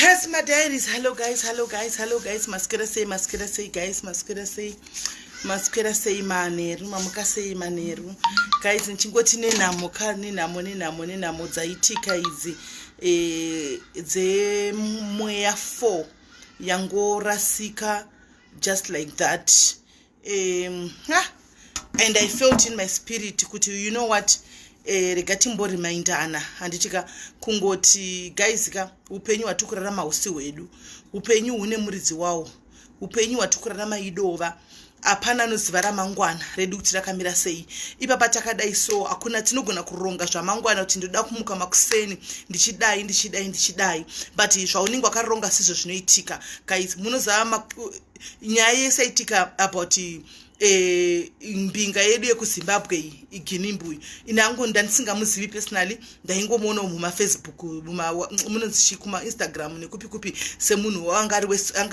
Yes, my diaries. Hello, guys. Hello, guys. Hello, guys. Maskira say, maskira say, guys. Maskira say, maskira say, maneru. Mamuka say, maneru. Guys, nchingoti nenamo, ka nenamo, nenamo, nenamo. Zaitika izi. Eh, ze mweya four. yangorasika just like that um, ah, and i felt in my spirit kuti you know what eh, rega timborimindana handiti ka kungoti guys ka upenyu hwatikurarama husi hwedu upenyu hune muridzi wawo upenyu hwatikurarama idova hapana anoziva ramangwana redu kuti rakamira sei ipapa takadai so hakuna tinogona kuronga zvamangwana kuti ndoda kumuka makuseni ndichidai ndichidai ndichidai but zvaunenge wakaronga sizvo zvinoitika guys munozava nyaya yese itika about eh, mbinga yedu yekuzimbabwe iyi iginimbuyi ini angu ndandisingamuzivi personally ndaingomuona mumafacebook munonzichi kumainstagram nekupi kupi semunhu anga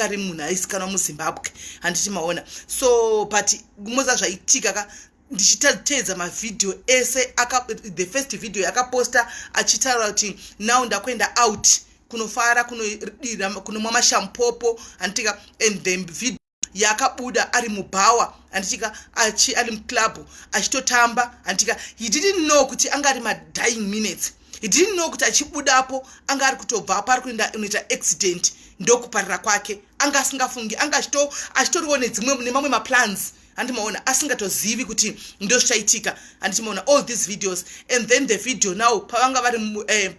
ari munhu aisikanwa muzimbabwe handiti maona so but moza zvaitika ka ndichiteedza mavhidhiyo ese the first video yakaposta achitaura kuti now ndakuenda out kunofara kunomwa mashampopo handitika and the video yakabuda ari mubhawa handitika achi ari muclub achitotamba handitika he didn't know kuti anga ari madying minutes he didn't know kuti achibudapo anga ari kutobva apo ari kuenda unoita accident ndokuparira kwake anga asingafungi anga achitoriwo nedzimwe nemamwe maplans handimaona asingatozivi kuti ndozvichaitika handichimaona all these videos and then the video now pavanga vari eh,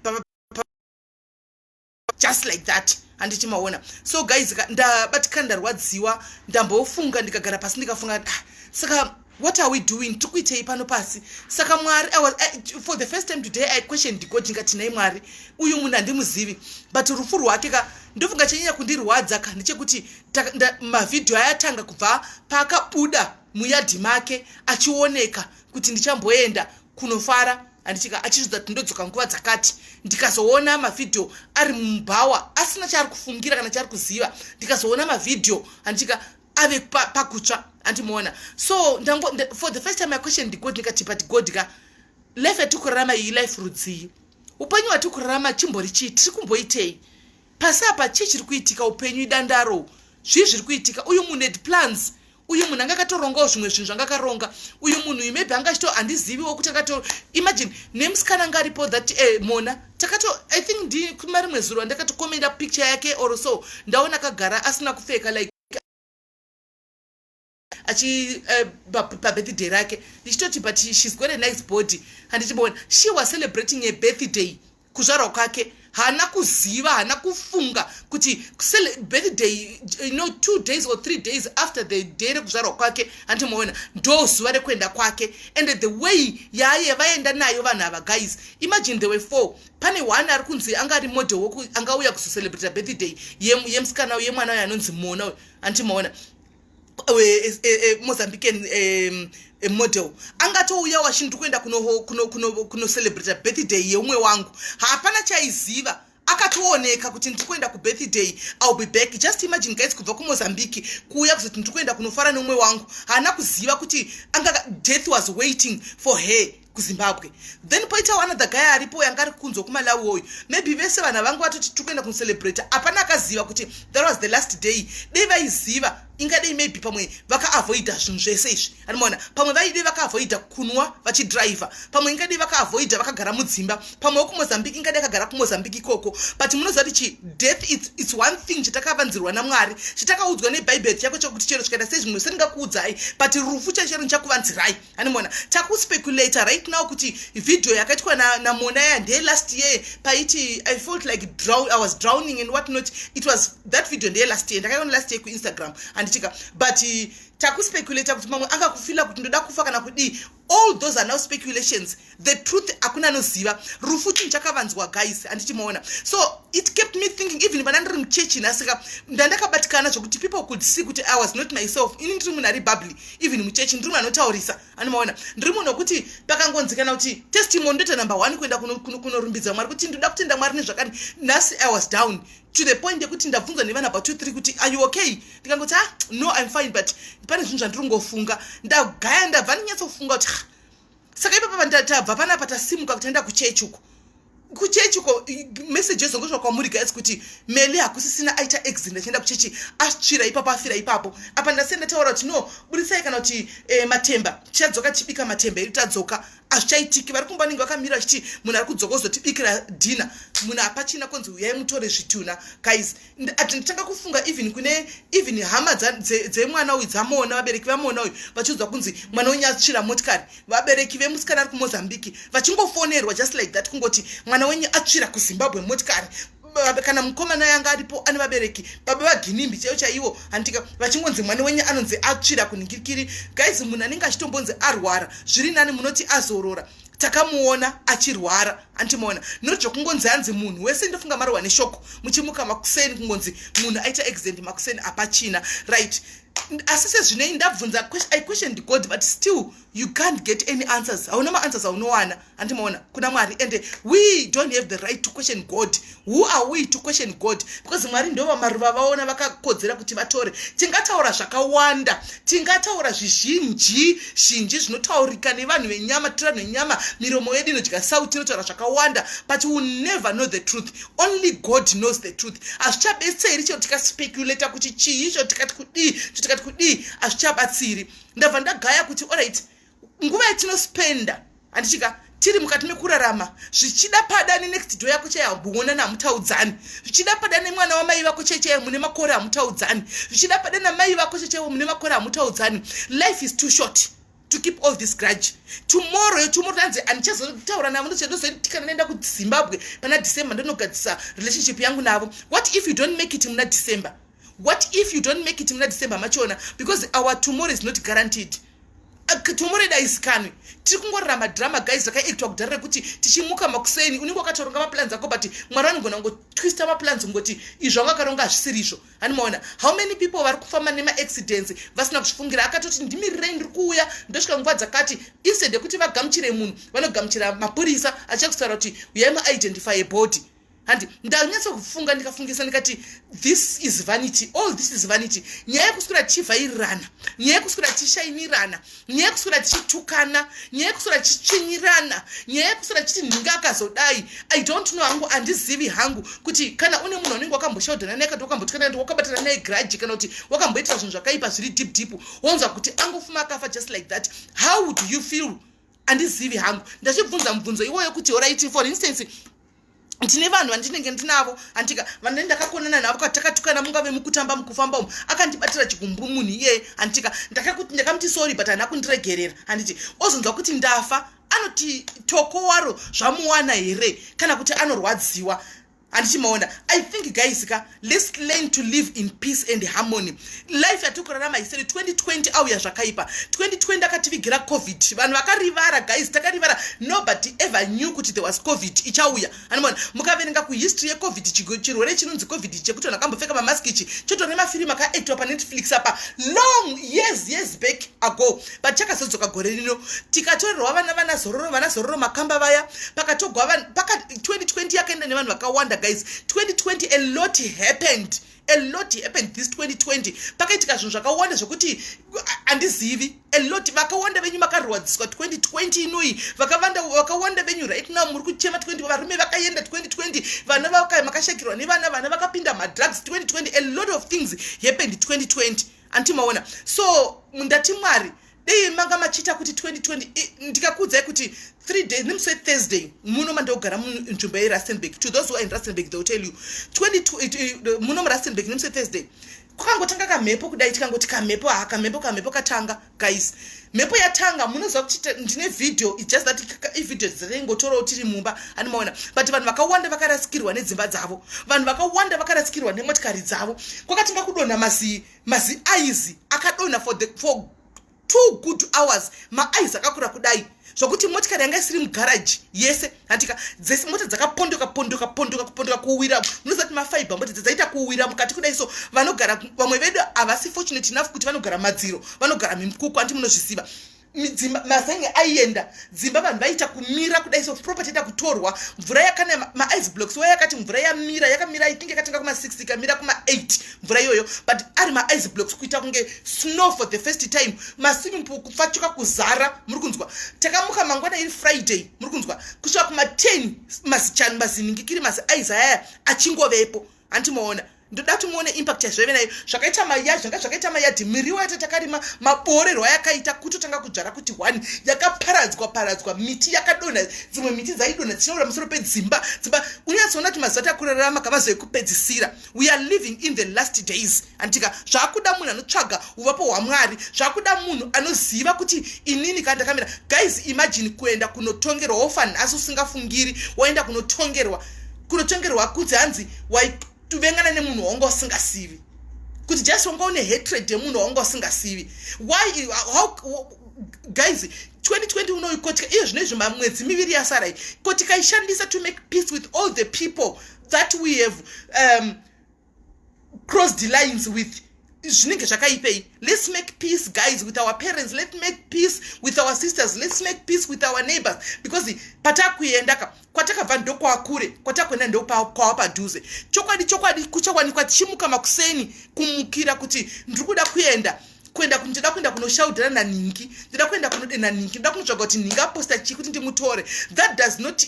just like that handiti maona so guys ndabatikana ndarwadziwa ndambofunga ndikagara pasi ndikafunga ah, saka what are we doing tiri kuitei pano pasi saka mwari was, uh, for the first time today i question god ndingati nai mwari uyu munhu handimuzivi but rufu rwake ka ndofunga chanyanya kundirwadza ka ndechekuti mavhidhiyo ayatanga kubva paakabuda muyadhi make achioneka kuti ndichamboenda kunofara andichika achizvidza kuti ndodzoka nguva dzakati ndikazoona mavhidhiyo ari mubhawa asina chaari kufungira kana chaari kuziva ndikazoona mavhidhiyo andichika ave pakutsva andimoona so ndango for the first time i question the god ndikati but god ka life yatiri kurarama iyi life rudzii upenyu hwatiri kurarama chimbori chii tiri kumboitei pasi apa chii chiri kuitika upenyu idandaro zvii zviri kuitika uyu munhu had plans uyu munhu anga akatorongawo zvimwe zvinhu zvanga akaronga uyu munhu uyu maybe anga achito handiziviwo kuti akato imagine nemusikana anga aripo that eh, mona takato i think ndi kuma rimwe zuro andakatokomenda picture yake or so ndaona akagara asina kupfeka like achi eh, pabirthday rake ndichitoti but she's got a nice body handichibona she was celebrating a birthday kuzvarwa kwake haana kuziva haana kufunga kuti birthday you know two days or three days after the day rekuzvarwa kwake hanti maona ndo zuva rekuenda kwake and the way yaaye vaenda nayo vanhu ava guys imagine the way four pane one ari kunzi anga ari model woku angauya kuzocelebrata birthday yemusikana yemwana uyo anonzi mona uyo hanti maona mozambican model angatouya wachinzi ndi kuenda kunocelebrata birthday yeumwe wangu hapana chaiziva akatooneka kuti ndiri kuenda kubirthday ill be back just imagine guys kubva kumozambique kuuya kuzoti ndiri kuenda kunofara neumwe wangu haana kuziva kuti death was waiting for her kuzimbabwe then poitawo another guy aripo yanga ari kunzwa kumalawi woyu maybe vese vanhu vangu vatoti tiri kuenda kunocelebrat hapana akaziva kuti that was the last day dei vaiziva ingadei maybe pamwe vakaavoida zvinhu zvese izvi animoona pamwe vaidei vakaavoida kunwa vachidriver pamwe ingadei vakaavoida vakagara mudzimba pamwe wokumozambique ingadei akagara kumozambique ikoko but munoziva kuti chi death it's, it's one thing chatakavanzirwa namwari chatakaudzwa nebhaibheri chako chokuti chero chikaita sezvimwe sendingakuudzai but rufu chaichero ndichakuvanzirai animona takuspeculator right now kuti video yakaitwa namona ya ndeye last year paiti i felt like drown, i was drowning and what not it was that video ndeye last year ndakaiona last year kuinstagram handitika but takuspeculator kuti mamwe angakufila kuti ndoda kufa kana kudii all those are now speculations the truth akuna anoziva rufu chinhu chakavanzwa guys handichimaona so it kept me thinking even vana ndiri muchechi nhasika ndandakabatikana zvokuti people could see kuti i was not myself ini ndiri munhu ari bubly even muchechi ndiri munhu anotaurisa anomaona ndiri munhu wekuti pakangonzikana kuti testimony ndoita number one kuenda kunorumbidza mwari kuti ndoda kutenda mwari nezvakani nhasi i was down to the point yekuti ndabvunzwa nevana about two three kuti are you okay ndikangoti ah no im fine but pane zvinhu zvandiri kungofunga ndagaya ndabva ndinyatsofunga kuti saka ipapo pandatabva panapa tasimuka kuti enda kuchechi uko kuchechi uko message ezongosvika kwamuri guys kuti meli hakusisina aita exit ndachienda kuchechi asvira ipapo afira ipapo apa ndasei ndataura kuti no budisai kana kuti eh, matemba tichadzoka tichibika matemba edu tadzoka hazvichaitiki vari kumba vanenge vakamira vachiti munhu ari kudzoka ozotibikira dhina munhu hapachina konzi huyai mutore zvituna guys ati nditanga kufunga even kune even hama dzemwana uyu dzamoona vabereki vamoona uyu vachiudzwa kunzi mwana wenyu atsvira motikari vabereki vemusikana ari kumozambique vachingofonerwa just like that kungoti mwana wenyu atsvira kuzimbabwe motikari kana mukomana yanga aripo ane vabereki baba vaginimbi chaivo chaivo handitika vachingonzi mwana wenyu anonzi atsvira kunhingirikiri guys munhu anenge achitombonzi arwara zviri nani munoti azorora takamuona achirwara antimuona not zvokungonzi anzi munhu wese ndofunga marohwa neshoko muchimuka makuseni kungonzi munhu aita accident makuseni apachina right asi sezvinei ndabvunza i questioned god but still you can't get any answers hauna maanswers aunowana andimaona kuna mwari and we don't have the right to question god who are we to question god because mwari ndo vamaruva vaona vakakodzera kuti vatore tingataura zvakawanda tingataura zvizhinji zhinji zvinotaurika nevanhu venyama tira nenyama miromo yedu inodya sau tinotaura zvakawanda but will never know the truth only god knows the truth hazvichabetseri chero tikaspekulata kuti chii cho tikati kudii cho tikati kudii hazvichabatsiri ndabva ndagaya kuti oright nguva yatinospenda handichika tiri mukati mekurarama zvichida pada nenext door yako chaiye hamboona namutaudzani zvichida pada nemwana wamai vako chai chaiye mune makore hamutaudzani zvichida pada namai vako chai chaiwo mune makore hamutaudzani life is too short to keep all this grudge tomorrow yotomorrow tanzi handichazotaura navo ndozoitikana naenda kuzimbabwe pana december ndonogadzisa relationship yangu navo what if you don't make it muna december what if you don't make it muna december machona because our tomorrow is not guaranteed tomoreda isikanwi tiri kungorira madrama guys zvakaitwa kudhara rekuti tichimuka makuseni unenge wakatoronga maplans ako but mwari vanogona kungotwista maplans kungoti izvo anga akaronga hazvisiri izvo hani maona how many people vari kufamba nemaaccidents vasina kuzvifungira akatoti ndimirirei ndiri kuuya ndosvika nguva dzakati instead yekuti vagamuchire munhu vanogamuchira mapurisa achiya kutaura kuti uyai muidentify body handi ndanyatsa kufunga ndikafungisa ndikati this is vanity all this is vanity nyaya yekuswera tichivhairirana nyaya yekuswera tichishaimirana nyaya yekuswera tichitukana nyaya yekuswera tichichinyirana nyaya yekuswera tichiti nhinga akazodai i don't know hangu handizivi hangu kuti kana une munhu anenge wakamboshaudhana naye kati wakambotukana ndi wakabatana naye graji kana kuti wakamboitira zvinhu zvakaipa zviri deep deep wonzwa kuti angofuma akafa just like that how do you feel andizivi hangu ndachibvunza mubvunzo iwoyo kuti oraiti for instance ndine vanhu vandinenge ndinavo andika vane ndakakonana navo katakatukana mungave mukutamba mukufamba umu akandibatira chigumbu munhu iyeye andika ndakakuti ndakamuti sorry but hana kundiregerera handiti ozonzwa kuti ndafa anoti toko waro zvamuwana here kana kuti anorwadziwa handiti maona i think guys ka let's learn to live in peace and harmony life yatikurarama isere 2020 auya zvakaipa 2020 akativigira covid vanhu vakarivara guys takarivara nobody ever knew kuti there was covid ichauya animona mukaverenga kuhistory yecovid chirwere chinonzi covid chekuti vanhu akambopfeka mamask ichi chotone mafirimu akaactwa panetflix apa long years years back ago but chakazodzoka gore rino tikatorerwa vana vana zororo vana zororo makamba vaya pakatogwa paka 2020 yakaenda nevanhu vakawanda guys 2020 a lot happened a lot happened this 2020 pakaitika zvinhu zvakawanda zvekuti handizivi a lot vakawanda venyu makarwadziswa 2020 inoyi vakawanda venyu right now muri kuchema 20 varume vakaenda 2020 vana makashakirwa nevana vana vakapinda madrugs 2020 a lot of things happened 2020 anti maona so mundati mwari dei manga machiita kuti 2020 ndikakuudzai kuti three days nemusi wethursday muno mandiogara munzvimbo yerustenburg to those who are in rustenburg they will tell you 22 muno murustenburg nemusi wethursday kwakangotanga kamhepo kudai tikangoti kamhepo haa kamhepo kamhepo katanga guys mhepo yatanga munoziva kuti ndine video its just that ivideo dzataingotorawo tiri mumba ani maona but vanhu vakawanda vakarasikirwa nedzimba dzavo vanhu vakawanda vakarasikirwa nemotikari dzavo kwakatinga kudonha mazi mazi aizi akadonha for the for two good hours maaizi akakura kudai zvokuti motikari yanga isiri mugaraji yese hantika dzese mota dzakapondoka pondoka pondoka kupondoka kuwira munozati mafaiba mota dze dzaita kuwira mukati kudai so vanogara vamwe vedu havasi fortunate enough kuti vanogara madziro vanogara mimkuku hanti munozviziva dzimba mazenge aienda dzimba vanhu vaiita kumira kudai so property ita kutorwa mvura yakana maice blocks waya yakati mvura yamira yakamira itinge yakatanga kuma 6 ikamira kuma 8 mvura iyoyo but ari maice blocks kuita kunge snow for the first time maswimming pool kupfachuka kuzara muri kunzwa takamuka mangwana iri friday muri kunzwa kusvika kuma10 mazichani maziningikiri mazi ice ayaya achingovepo hanti maona ndoda kuti muone impact yazvaive nayo zvakaita maya zvanga zvakaita mayadhi miriwo yata takarima maboorerwa yakaita kutotanga kudzvara kuti one yakaparadzwa paradzwa miti yakadonha dzimwe miti dzaidonha dzichinoura musoro pedzimba dzimba unyatsoona kuti mazuva takurarama kamazoekupedzisira we are living in the last days antika zvakuda munhu anotsvaga uvapo hwamwari zvakuda munhu anoziva kuti inini kana ndakamira guys imagine kuenda kunotongerwa wofa nhasi usingafungiri waenda kunotongerwa kunotongerwa kuti hanzi waituvengana nemunhu wawanga usingasivi kuti just wanga une hatred yemunhu wawanga usingasivi why how, guys 2020 unoikotika iyo zvino izvi mamwedzi miviri yasarai kotika ishandisa to make peace with all the people that we have um, cross the lines with zvinenge zvakaipei let's make peace guys with our parents let's make peace with our sisters let's make peace with our neighbors because patakuenda ka kwatakabva ndokwakure kwatakuenda ndokwava padhuze chokwadi chokwadi kuchawanikwa tichimuka makuseni kumukira kuti ndiri kuda kuenda kuenda ndida kuenda kunoshaudhira nanhingi ndida kuenda kunode nanhingi ndida kunotsvaga kuti nhingi aposta chii kuti ndimutore that does not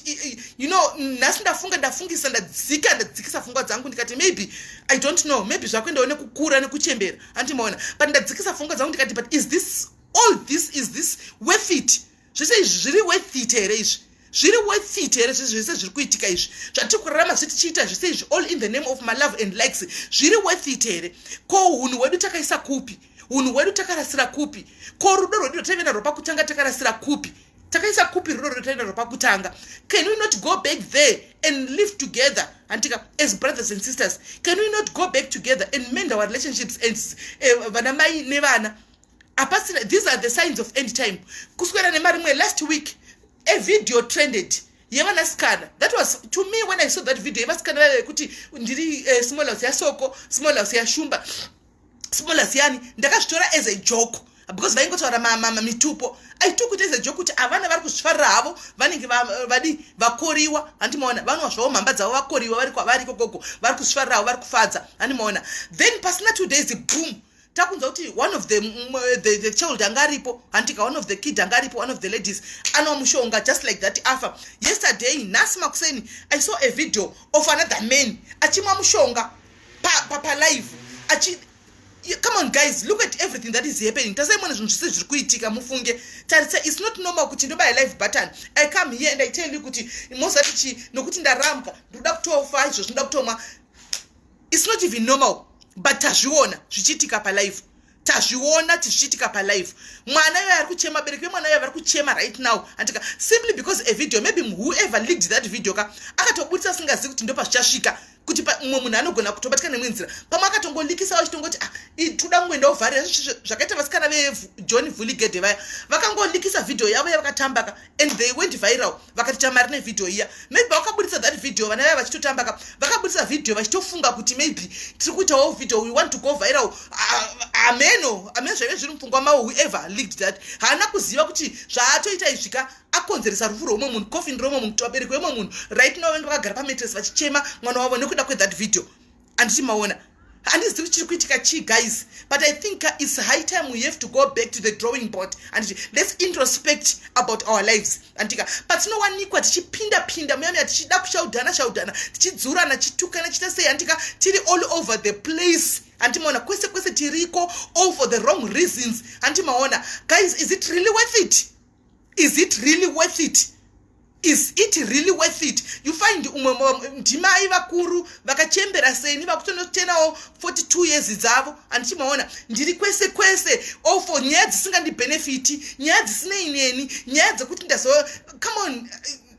you know nhasi ndafunga ndafungisa ndadzika ndadzikisa fungwa dzangu ndikati maybe i don't know maybe zvakuendawo nekukura nekuchembera handimaona but ndadzikisa fungwa dzangu ndikati but is this all this is this worth it zvese izvi zviri worth it here izvi zviri worth it here zvese zvese zviri kuitika izvi zvatiri kurarama zve tichiita zvese izvi all in the name of my love and likes zviri worth it here ko unhu hwedu takaisa kupi unhu hwedu takarasira kupi ko rudo rwedu rwataive narwo pakutanga takarasira kupi takaisa kupi rudo rwedu rwataive narwo pakutanga can we not go back there and live together antika as brothers and sisters can we not go back together and mend our relationships and eh, vana mai nevana uh, apasina these are the signs of end time kuswera nemari imwe last week a video trended yevanasikana that was to me when i saw that video yevasikana vaive kuti ndiri uh, small house yasoko small house yashumba small house yani ndakazvitora as a joke because vaingotaura mamama mitupo i took it as a joke kuti avana vari kuzvifarira havo vanenge vadi vakoriwa handi maona vanwa zvavo mhamba dzavo vakoriwa vari kwavari kokoko vari kuzvifarira havo vari kufadza handi maona then pasina two days boom takunzwa kuti one of the, mm, uh, the, the child anga aripo hantika one of the kid anga aripo one of the ladies anwa mushonga just like that afa yesterday nhasi makuseni i saw a video of another man achimwa mushonga palive pa, pa come on guys look at everything that is happening tasaimona zvinhu zvese zviri kuitika mufunge tarisa its not normal kuti ndobaya live button i come here and i tell you kuti mozati chi nokuti ndarambwa ndikuda kutofa izvo zvinoda kutomwa its not even normal but tazviona zvichiitika palive tazviona tizvichiitika palive mwana yoyo ari kuchema abereki vemwana yoyo vari kuchema right now andika simply because a video maybe whoever leaked that video ka akatoburitsa asingazivi kuti ndo pazvichasvika kuti mumwe munhu anogona kutobatika nemwe nzira pamwe akatongolikisawo achitongoti ah, toda kungoenda ovharira zvakaita vasikana vejohn vuligede vaya vakangolikisa vhidhiyo yavo yavakatambaka and they went viral vakati chamari nevideo iya maybe vakaburitsa that video vana vaya vachitotamba ka vakaburitsa video vachitofunga kuti maybe tiri kuitawo video we want to go viral ameno ameno zvaive zviri mupfungwa mavo whoever leaked that haana kuziva kuti zvaatoita izvi ka akonzeresa rufu rweumwe munhu coffin reumwe munhu kuti vabereki veumwe munhu right now vange vakagara pametres vachichema mwana wavo nekuda kwethat video anditi maona handizivi kuti chiri kuitika chii guys but i think uh, its high time we have to go back to the drawing board anditi let's introspect about our lives anditika patinowanikwa tichipinda pinda muyamiya tichida kushaudhana shaudhana tichidzurana tichitukana tichiita sei anditika tiri all over the place handimaona kwese kwese tiriko all for the wrong reasons handimaona guys is it really worth it is it really worth it is it really worth it you find umwe ndimai vakuru vakachembera seni vakutonotenawo 42 years dzavo handichimaona ndiri kwese kwese ofo oh, nyaya dzisingandibenefiti nyaya dzisinei neni nyaya dzekuti ndazo come on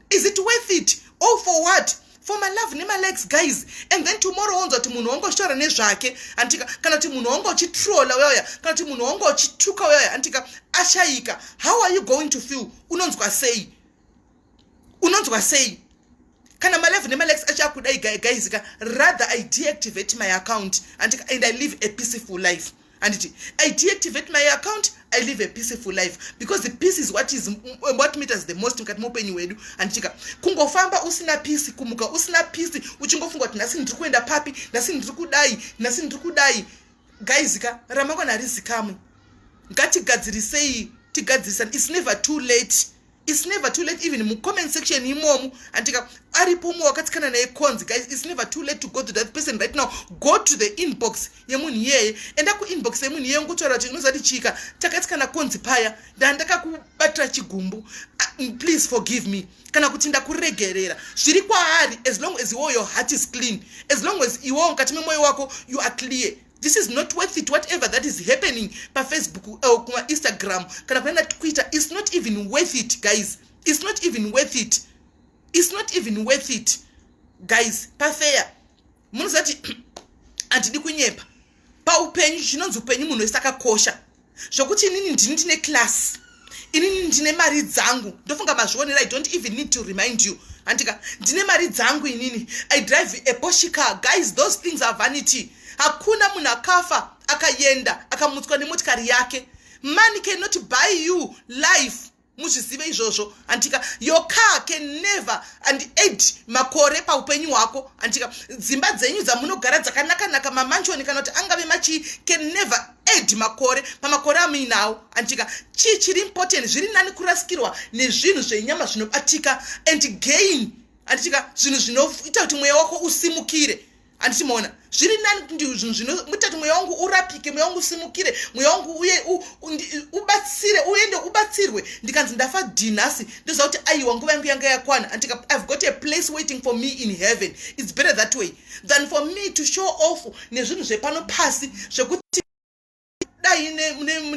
is it worth it all oh, for what for my love nema likes guys and then tomorrow wonzwa kuti munhu wangu achitaura nezvake antika kana kuti munhu wangu achitrola uyauya kana kuti munhu wangu achituka uyauya antika ashayika how are you going to feel unonzwa sei unonzwa sei kana malive nemalex achakudai guys ka rather i deactivate my account antika and i live a peaceful life handiti i deactivate my account i live a peaceful life because the peace is what is what matters the most mukati meupenyu hwedu handitika kungofamba usina peace kumuka usina peace uchingofunga kuti nhasi ndiri kuenda papi nhasi ndiri kudai nhasi ndiri kudai gaizika ramangwana harizikamwe ngatigadzirisei tigadzirisani its never too late It's never too late even mucomment section imomu andika aripo umwe wakatsikana naye conzi guys it's never too late to go to that person right now go to the inbox yemunhu iyeye enda kuinbox yemunhu iyeye ngotaura kuti unozati chika takatsikana conzi paya ndandakakubatira chigumbu uh, please forgive me kana kuti ndakuregerera zviri kwaari as long as iwo your heart is clean as long as iwo mukati memwoyo wako you are clear this is not worth it whatever that is happening pafacebook or eh, kumainstagram kana kunaana twitter is not even worth it guys is not even worth it is not even worth it guys pafeya munozati handidi kunyepa paupenyu chinonzi upenyu munhu wese akakosha zvokuti inini ndini ndine class inini ndine mari dzangu ndofunga mazvionera i don't even need to remind you handika ndine mari dzangu inini i drive a poshika guys those things are vanity hakuna munhu akafa akaenda akamutswa nemotikari yake money cannot buy you life muzvizive izvozvo antika your car can never and aid makore paupenyu hwako antika dzimba dzenyu dzamunogara dzakanakanaka mamanchoni kana kuti angave machii can never aid makore pamakore amuinawo antika chii chiri important zviri nani kurasikirwa nezvinhu zvenyama zvinobatika and gain anditika zvinhu zvinoita kuti mweya wako usimukire handiti moona zviri nani kuti zvinhu zvino mutati mweya wangu urapike mweya wangu usimukire mweya wangu uye ubatsire uende ubatsirwe ndikanzi ndafa dhinhasi ndoziva kuti aiwa nguva yangu yanga yakwana handika ive got a place waiting for me in heaven its better that way than for me to show off nezvinhu zvepano pasi zvekuti dai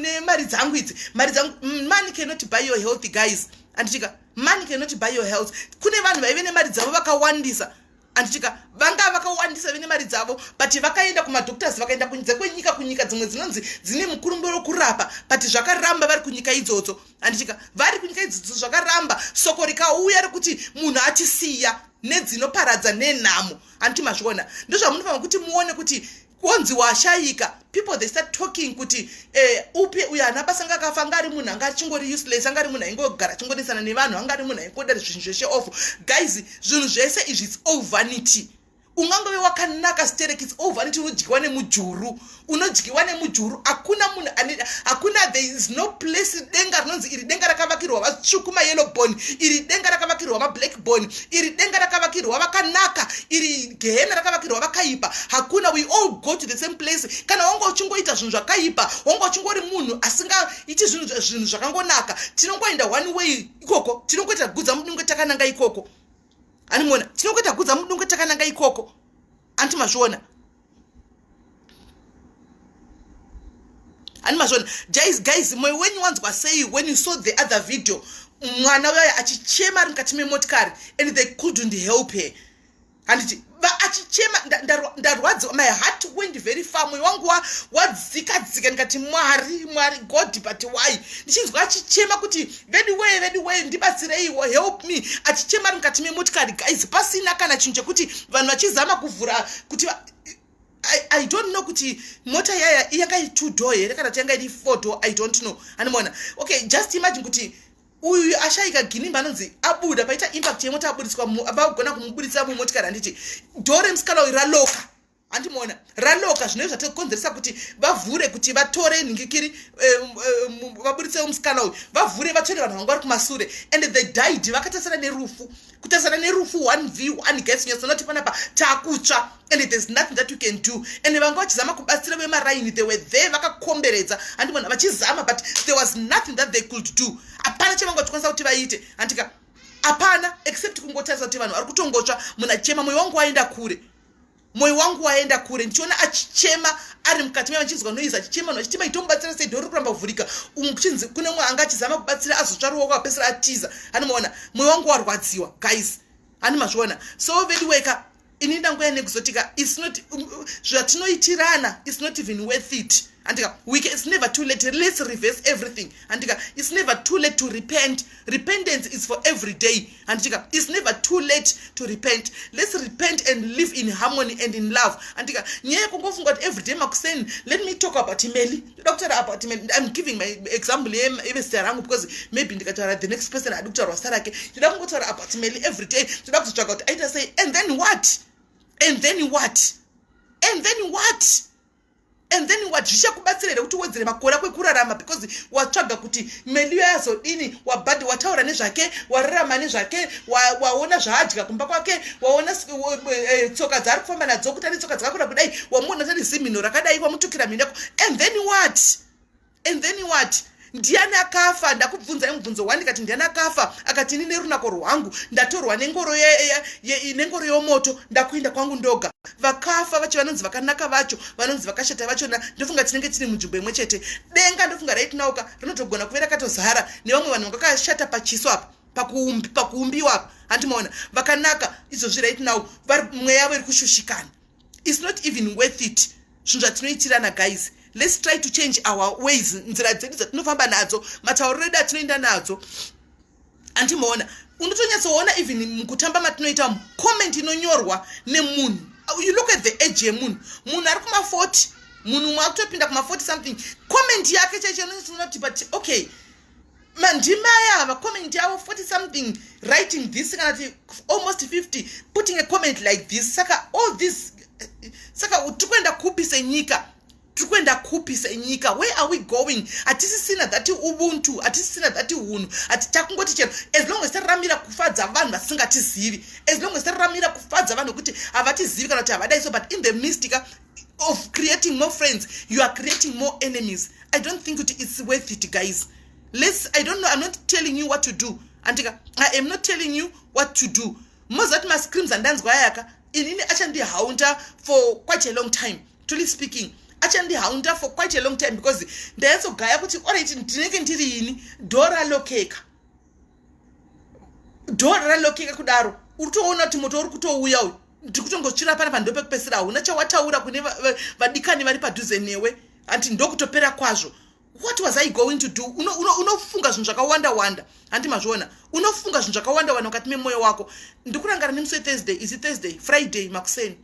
nemari dzangu idzi mari dzangu mm, money cannot buy your health guys anditika money cannot buy your health kune vanhu vaive nemari dzavo vakawandisa anditika vanga vakawandisa vene mari dzavo but vakaenda kumadoctors vakaenda kunze kwenyika kunyika dzimwe dzinonzi dzine mukurumbo wekurapa but zvakaramba vari kunyika idzodzo anditika vari kunyika idzodzo zvakaramba soko rikauya rekuti munhu achisiya nedzinoparadza nenhamo anditi mazviona ndozvamunofanira kuti muone kuti wonzi washayika people they start talking kuti eh, upi uyo ana basa anga akafa anga ari munhu anga achingori useless anga ari munhu aingogara achingonesana nevanhu anga ari munhu aingoda zvinhu zveshe off guys zvinhu zvese izvi its all vanity ungangove wakanaka sterek its all vanity unodyiwa nemujuru unodyiwa nemujuru hakuna munhu hakuna there is no place denga rinonzi iri denga rakavakirwa vatsvuku mayellow bone iri denga rakavakirwa mablack boni iri denga rakavakirwa vakanaka iri gehena rakavakirwa vakaipa hakuna we all go to the same place kana wanga uchingoita zvinhu zvakaipa wanga uchingori munhu asingaiti zvinhu zvakangonaka tinongoenda one way ikoko tinongoita gudza mudunge takananga ikoko animona tinongoita gudza mudunge takananga ikoko anti mazviona ani mazvona guys guys moyo wenyu wanzwa sei when you saw the other video mwana uyayo achichema ari mukati memotikari and they couldn't help her handiti achichema ndarwadziwa my heart went very far moyo wangu wadzikadzika ndikati mwari mwari god but why ndichinzwa achichema kuti veduwee veduwee ndibatsireiwo help me achichema ari mukati memotikari guys pasina kana chinhu chekuti vanhu vachizama kuvhura kuti I, i don't know kuti mota yaya yanga iri two door here kana kuti yanga iri four door i don't know animoona okay just imagine kuti uyu ashaika ginimba anonzi abuda paita impact yemota abudiswa vakugona kumubudisa mumotikari handiti dho remusikana uyu raloka andimoona raloka zvinove zvatokonzeresa kuti vavhure kuti vatore nhingikiri eh, eh, vaburitsewo musikana uyu vavhure vatsvere vanhu vanga vari kumasure and the did vakatasana nerufu kutasana nerufu one v one gas nyasonoti panapa takutsva and there's nothing that you can do and vanga vachizama kubatsira vemaraini they were there vakakomberedza andimoona vachizama but there was nothing that they could do hapana chavanga vachikwanisa kuti vaite handika hapana except kungotarisa kuti vanhu vari kutongotsva munachema moyo wangu waenda kure moyo wangu waenda kure ndichiona achichema ari mukati meva ndichinzwa noise achichema noachiti maitomubatsira sei dhori kuramba kuvhurika umwe kuchinzi kune umwe anga achizama kubatsira azotsva ruoko apesera atiza hani maona moyo wangu warwadziwa guys hani mazviona so veduweka ini ndangoya nekuzotika um, um, zvatinoitirana is not even worth it andika week it's never too late let's reverse everything andika it's never too late to repent repentance is for every day andika its never too late to repent let's repent and live in harmony and in love andika nyaya yekungofunga kuti every day makuseni let me talk about imeli ndoda kutaura about imeli im giving my example yevesita rangu because maybe ndikataura the next person adi kutaurwa sita rake ndoda kungotaura about imeli every day ndoda kuzotsvaga kuti aita sei and then what and then what and then what and then wadzvisha kubatsira here kuti uwedzere makore ako ekurarama because watsvaga kuti meliyo yazodini wabhadhi wataura nezvake wararama nezvake waona zvaadya kumba kwake waona eh, eh, tsoka dzaari kufamba nadzo kuti ane tsoka dzakakura kudai wamuona tari zimhino rakadai wamutukira mhinako and then what and then what ndiani akafa ndakubvunzai mubvunzo one ndikati ndiani akafa akati ini nerunako rwangu ndatorwa nengoro nengoro yomoto ndakuenda kwangu ndoga vakafa vacho vanonzi vakanaka vacho vanonzi vakashata vachona ndofunga tinenge tiri munzvimbo imwe chete denga ndofunga raitinauka rinotogona kuve rakatozara nevamwe vanhu vanga vakashata pachiso apa pakuumbiwa apa handimaona vakanaka izvozvi right now mweya yavo iri kushushikana its not even worth it zvinhu zvatinoitirana guys let's try to change our ways nzira dzedu dzatinofamba nadzo matauriro edu atinoenda nadzo andimoona unotonyatsoona even mukutamba matinoita mu comment inonyorwa nemunhu you look at the age yemunhu munhu ari kuma40 munhu umwe akutopinda kuma40 something comment yake chaicho anonyatsoonakuti but okay mandimai ava comment yavo 40 something writing this kana ti almost 50 putting a comment like this saka all this saka tiri kuenda kupi senyika tiri kuenda kupi senyika where are we going hatisisina dhati ubuntu hatisisina dhati unhu hati takungoti chero as long as tariramira kufadza vanhu vasingatizivi as long as tariramira kufadza vanhu vekuti havatizivi kana kuti havadai so but in the mystica of creating more friends you are creating more enemies i don't think kuti it's worth it guys lets i don't know i'm not telling you what to do andika i am not telling you what to do mozati mascreams andanzwa ayaka inini achandihaunda for quite a long time truly speaking achandihaunda for quite a long time because ndayatsogaya kuti orit ndinenge ndiri ini dora lokeka dhora ralokeka kudaro uri toona kuti moto uri kutouya uyu ndiri kutongotsvira pana panhu ndopekupesera hauna chawataura kune vadikani vari padhuze newe hanti ndokutopera kwazvo what was i going to do unofunga uno, uno zvinhu zvakawanda wanda handi mazviona unofunga zvinhu zvakawanda wanda mukati memwoyo wako ndikurangara nemusi wethursday isi thursday friday makuseni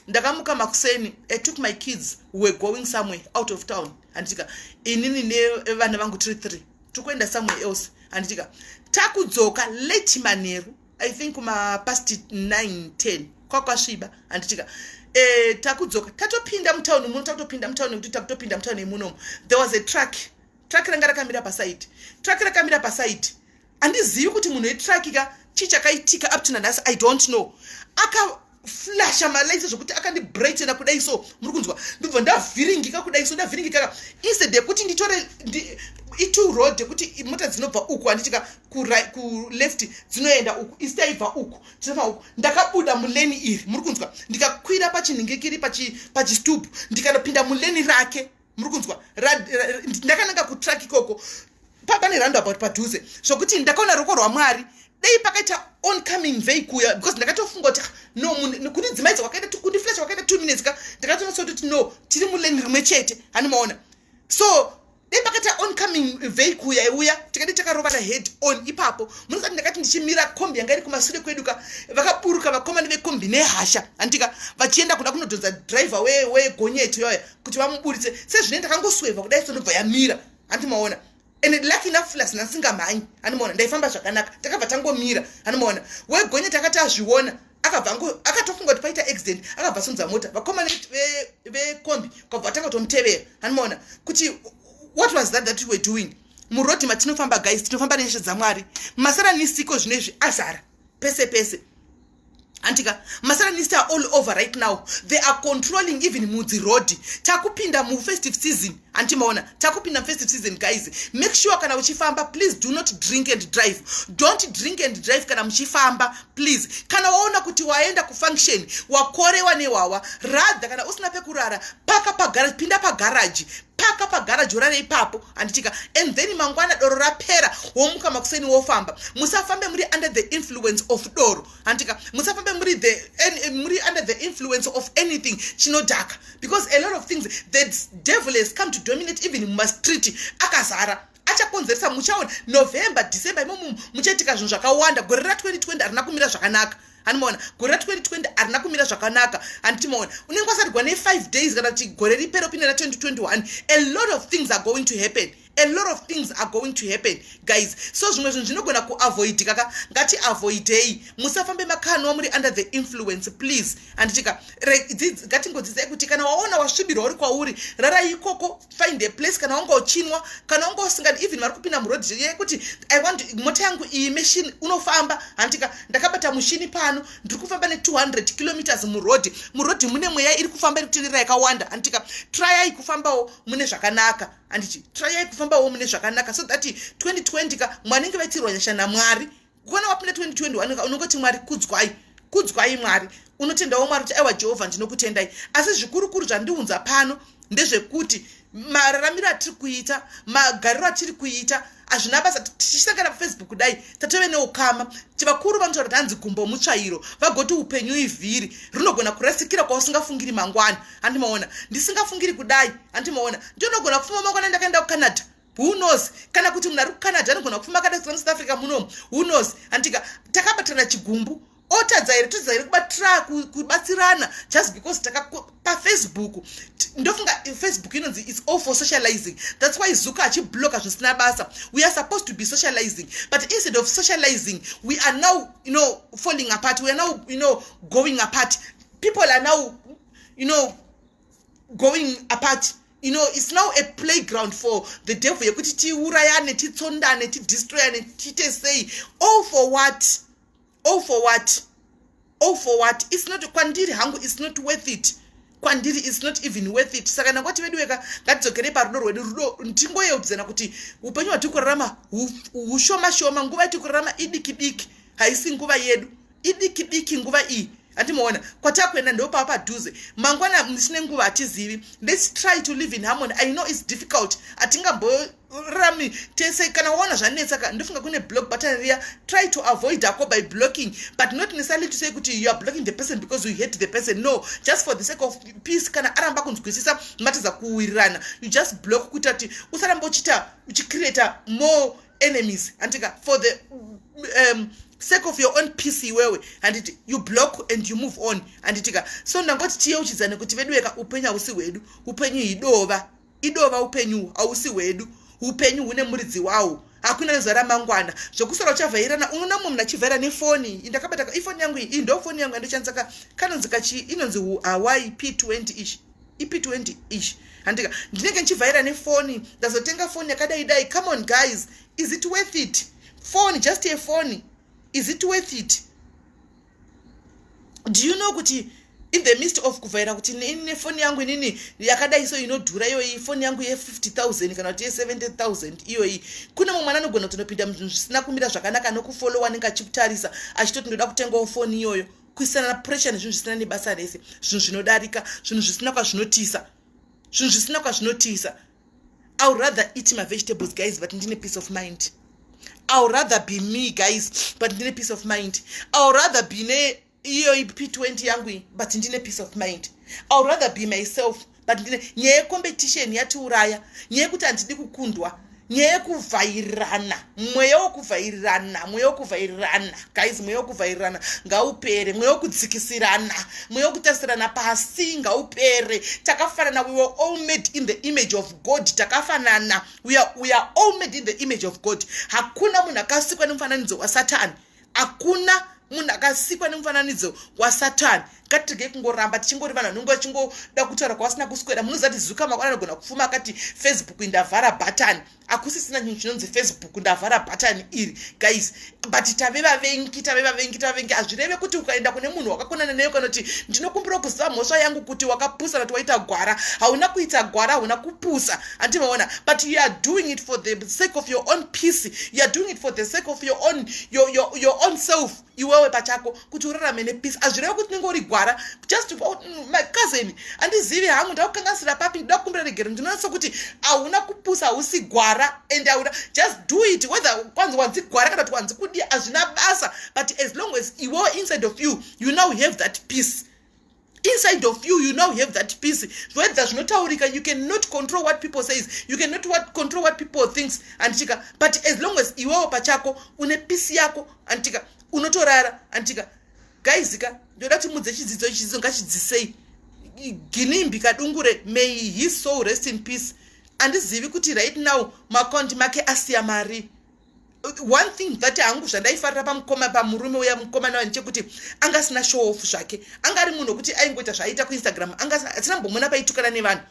ndakamuka makuseni i took my kids were going somewhere out of town handitika inini nevana vangu tiri three tikuenda somewhere else handitika takudzoka late manheru i think kuma past 9 10 kwakwasviba handitika eh, takudzoka tatopinda mutauni muno takutopinda mutauni nekuti takutopinda mutauni yemunomo there was a truck truck ranga rakamira pasaidi truck rakamira pasaidi handizivi kuti munhu wetraki ka chii chakaitika up to nanhasi i don't know aka flasha malights zvekuti akandibrightena kudai so muri kunzwa ndobva ndavhiringika kudai so ndavhiringikaka instead yekuti nditore itu road yekuti mota dzinobva uku handitika kuleft dzinoenda uku isi taibva uku tinobva uku ndakabuda muleni iri muri kunzwa ndikakwira pachinhingikiri pachistubhu ndikanopinda muleni rake muri kunzwa ndakananga kutrack ikoko papa nerando about padhuze zvokuti ndakaona ruoko rwamwari dei pakaita oncoming vei kuya because ndakatofunga kuti ah, no munhu kuti dzimaidzo wakaita kundiflasha wakaita two minutes ka ndakatonasa kuti no tiri muleni rimwe chete hani maona so dei pakaita oncoming vei kuya iuya tikadi takarovana head on ipapo munosati ndakati ndichimira kombi yanga iri kumasure kwedu ka vakaburuka vakomani vekombi nehasha handika vachienda kuda kunodhonza driver wegonyeto yoya kuti vamuburitse sezvine ndakangosweva kudai sonobva yamira hanti maona and lucky enough plus nasingamhanyi anomaona ndaifamba zvakanaka takabva tangomira anomaona wegonye takati azviona akabva akatofunga kuti paita accident akabva asunza mota vakomana vekombi kwabva vatanga kutomutevera anomaona kuti what was that that you were doing murodhi matinofamba guys tinofamba nenyasha dzamwari masara nisiko zvino izvi azara pese pese handika masatanista are all over right now they are controlling even mudzi road takupinda mufestive season hanti maona takupinda mufestive season guys make sure kana uchifamba please do not drink and drive don't drink and drive kana muchifamba please kana waona kuti waenda kufunction wakorewa newawa rather kana usina pekurara paka pagaraji pinda pagaraji paka pagara jora reipapo handitika and then mangwana doro rapera womuka makuseni wofamba musafambe muri under the influence of doro handitika musafambe muri the muri under the influence of anything chinodhaka because a lot of things the devil has come to dominate even mumastreet akazara achakonzeresa muchaona november december imomo muchaitika zvinhu zvakawanda gore ra 2020 harina kumira zvakanaka handimaona gore ra 2020 harina kumira zvakanaka handitimaona unenge wasatigwa ne5 days kana kuti gore ripero pine ra 2021 a lot of things are going to happen a lot of things are going to happen guys so zvimwe zvinhu zvinogona kuavoidika ka ngati avoidei musafambe makanwa muri under the influence please handitika ngatingodzidzai kuti kana waona wasvibirwa uri kwauri rara ikoko find a place kana wanga uchinwa kana wanga usingadi even vari kupinda muroad yekuti i want mota yangu iyi machine unofamba handika ndakabata mushini pano ndiri kufamba ne200 kilometers muroad muroad mune mweya iri kufamba iri kutenderera yakawanda handika trayai kufambawo mune zvakanaka handiti trayai kufambawo mune zvakanaka so that 2020 ka mwanenge vatirwa nyasha namwari kuona wapinda 2021 unongoti mwari kudzwai kudzwai mwari unotendawo mwari kuti aiwa jehovha ndinokutendai asi zvikurukuru zvandiunza pano ndezvekuti mararamiro atiri kuita magariro atiri kuita hazvina basa tichisangana pafacebook kudai tatove neukama chivakuru vanotaura kuti hanzi gumbo mutsvairo vagoti upenyu ivhiri rinogona kurasikira kwausingafungiri mangwana handimaona ndisingafungiri kudai handimaona ndinogona kufuma mangwana ndakaenda kucanada who knows kana kuti munhu ari kucanada anogona kufamba akada kusina musouth africa muno who knows anditika takabatana chigumbu otadza here totadza here kubatira kubatsirana just because takapafacebook ndofunga facebook inonzi its all for socializing thats why zuka achibloka zvisina basa we are supposed to be socializing but instead of socializing we are now you know falling apart we are now you know going apart people are now you know going apart you know it's now a playground for the devil yekuti tiurayane titsondane tidestroyane tiite sei all for what all for what all for what it's not kwandiri hangu it's not worth it kwandiri it's not even worth it saka nakwati vedu weka ngatidzokere parudo rwedu rudo ndingoyeudzana kuti upenyu hwatiri kurarama hushoma shoma nguva yatiri kurarama idiki diki haisi nguva yedu idiki diki nguva iyi andimoona kwatakuenda ndopava padhuze mangwana musine nguva hatizivi lets try to live in harmony i know its difficult hatingamborami tese kana waona zvanetsa ka ndofunga kune block button riya try to avoid ako by blocking but not necessarily to say kuti you are blocking the person because you hate the person no just for the sake of peace kana aramba kunzwisisa matadza kuwirirana you just block kuita kuti usaramba uchiita uchicreata more enemies handika for the um, sake of your own peace iwewe handiti you block and you move on handitika so ndangoti tiyeuchidzane kuti veduweka upenyu hausi hwedu upenyu idova idova upenyu hausi hwedu upenyu hune muridzi wawo hakuna nezuva ramangwana zvokusora uchavhairana unoona mumwe mna chivhaira nefoni indakabata ifoni yangu iyi indofoni yangu yandichandisaka kanonzi kachi inonzi hawaii p20 ichi ipi 20 ish handika ndinenge ndichivhaira nefoni ndazotenga foni yakadai dai come on guys is it worth it foni just a foni is it worth it do you know kuti in the midst of kuvhaira kuti ini nefoni yangu inini yakadai so inodhura iyoyi foni yangu ye50000 kana kuti ye70000 iyoyi kune mumwe mwana anogona kutonopinda muzvinhu zvisina kumira zvakanaka nokufolowa anenge achitarisa achitoti ndoda kutengawo foni iyoyo kuisana pressure nezvinhu zvisina nebasa rese zvinhu zvinodarika zvinhu zvisina kwazvinotiisa zvinhu zvisina kwazvinotiisa iw rather eat mavegetables guys but ndine peace of mind iw rather be me guys but ndine peace of mind iw rather be ne iyo p20 yangu but ndine peace of mind iw rather be myself but nyaya yecompetition yatiuraya nyaya yekuti handidi kukundwa nyaya yekuvhairirana mweya wekuvhairirana mweya wekuvhairirana guys mweya wekuvhairirana ngaupere mweya wekudzikisirana mweya wekutarisirana pasi ngaupere takafanana we were all made in the image of god takafanana we are, we are all made in the image of god hakuna munhu akasikwa nemufananidzo wasatani hakuna munhu akasikwa nemufananidzo wasatani ngatirege kungoramba tichingori vanhu vanenge vachingoda kutaura kwavasina kuswera munoziva kuti zuka makwana anogona kufuma akati facebook ndavhara bhatani hakusisina chinhu chinonzi facebook ndavhara bhatani iri guys but tave vavengi tave vavengi tave vavengi hazvireve kuti ukaenda kune munhu wakakonana neyo kana kuti ndinokumbira kuziva mhosva yangu kuti wakapusa kana kuti waita gwara hauna kuita gwara hauna kupusa hanti maona but you are doing it for the sake of your own peace you are doing it for the sake of your own, your, your, your own self iwewe pachako kuti urarame nepeace hazvireva kuti unenge uri gwara just oh, mm, my cousin handizivi hangu ndakukangasira papi ndida kukumbira regero ndinonatsa kuti hauna kupusa hausi gwara and hauna just do it whether kwanzi wanzi gwara kana kuti wanzi kudii hazvina basa but as long as iwewe inside of you you now have that peace inside of you you now have that peace zvoedza zvinotaurika you can not control what people says you can not what, control what people thinks anditika but as long as iwewo pachako une peace yako anditika unotorara anditika gaizika ndoda kuti mudze chidzidzo chidzidzo ngachidzisei ginimbi kadungure may his soul rest in peace andizivi kuti right now maaccount make asiya mari one thing that hangu zvandaifarira pamukoma pamurume uya mukoma navanhu chekuti anga asina show off zvake anga ari munhu wekuti aingoita zvaaita kuinstagram anga asina mbomona paitukana nevanhu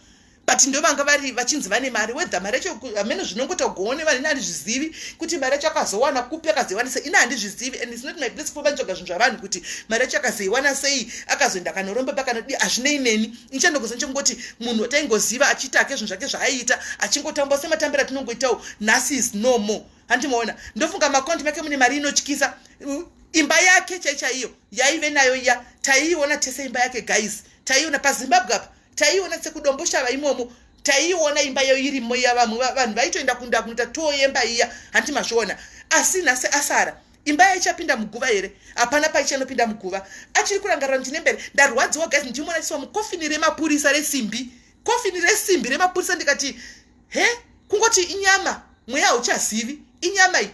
but ndo vanga vari vachinzi vane mari wedha mari yacho amene zvinongoita kugoone vanhu ini handizvizivi kuti mari yacho akazowana kupi akazoiwana sei ini handizvizivi and isnot my place kufa vanitsvaga zvinhu zvavanhu kuti mari yacho akazoiwana sei akazoenda akanoromba pakanodii hazvinei neni ichenda kuzi ndichingoti munhu taingoziva achiita ake zvinhu zvake zvaaiita achingotamba sematambira tinongoitawo nhasi is no more handi maona ndofunga makonti make mune mari inotyisa imba yake chaichaiyo yaive nayo iya taiiona tese imba yake guys taiiona pazimbabwe apa taiiona sekudomboshava imomo taiiona imba yayo irimo iya vamwe vanhu vaitoenda kunda kunoita too yemba iya handi mazviona asi nhasi asara imba yaichapinda muguva here hapana paichanopinda muguva achiri kurangarira ndine mbere ndarwadziwa guys ndichimona chiwa mukofini remapurisa resimbi kofini resimbi remapurisa ndikati he kungoti inyama mweya hauchazivi inyama iyi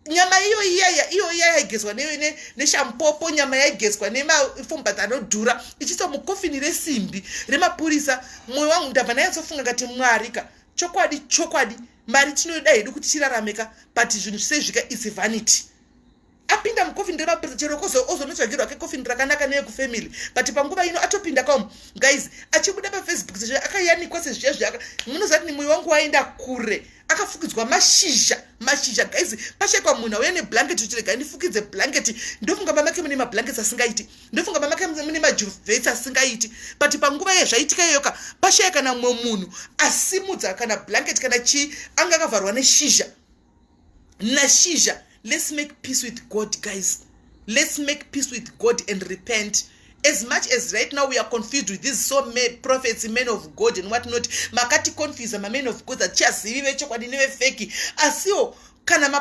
nyama iyo iyaya iyo iya yaigezwa neshampopo nyama yaigezwa nemafombata anodhura ichiiswa mukofini resimbi remapurisa mwoyo wangu ndabva nayatsofunga kati mwarika chokwadi chokwadi mari tinoida hedu kuti tirarame ka but zvinhu zvisezvika its vanity apinda mucoffin remapurisa chero kozo ozonotsvagirwa kecoffin rakanaka neyekufamily but panguva ino atopinda kaum guys achibuda pafacebook sezvo akayanikwa sezviya zviaka munozati ni mwoyo wangu waenda kure akafukidzwa mashizha mashizha guys pashaikwa munhu auya neblanketi uchiregai ndifukidze blanketi ndofunga mamake mune mablanketi asingaiti ndofunga mama ke mune majuvhesi asingaiti but panguva yezvaitika iyoka pashaya kana mumwe munhu asimudza kana blanket kana chii anga akavharwa neshizha nashizha let's make peace with god guys let's make peace with god and repent as much as right now we are confused with these so ma prophets men of god and what not makati confuse mamen of god atichazivi vechokwadi nevefeki asiwo kana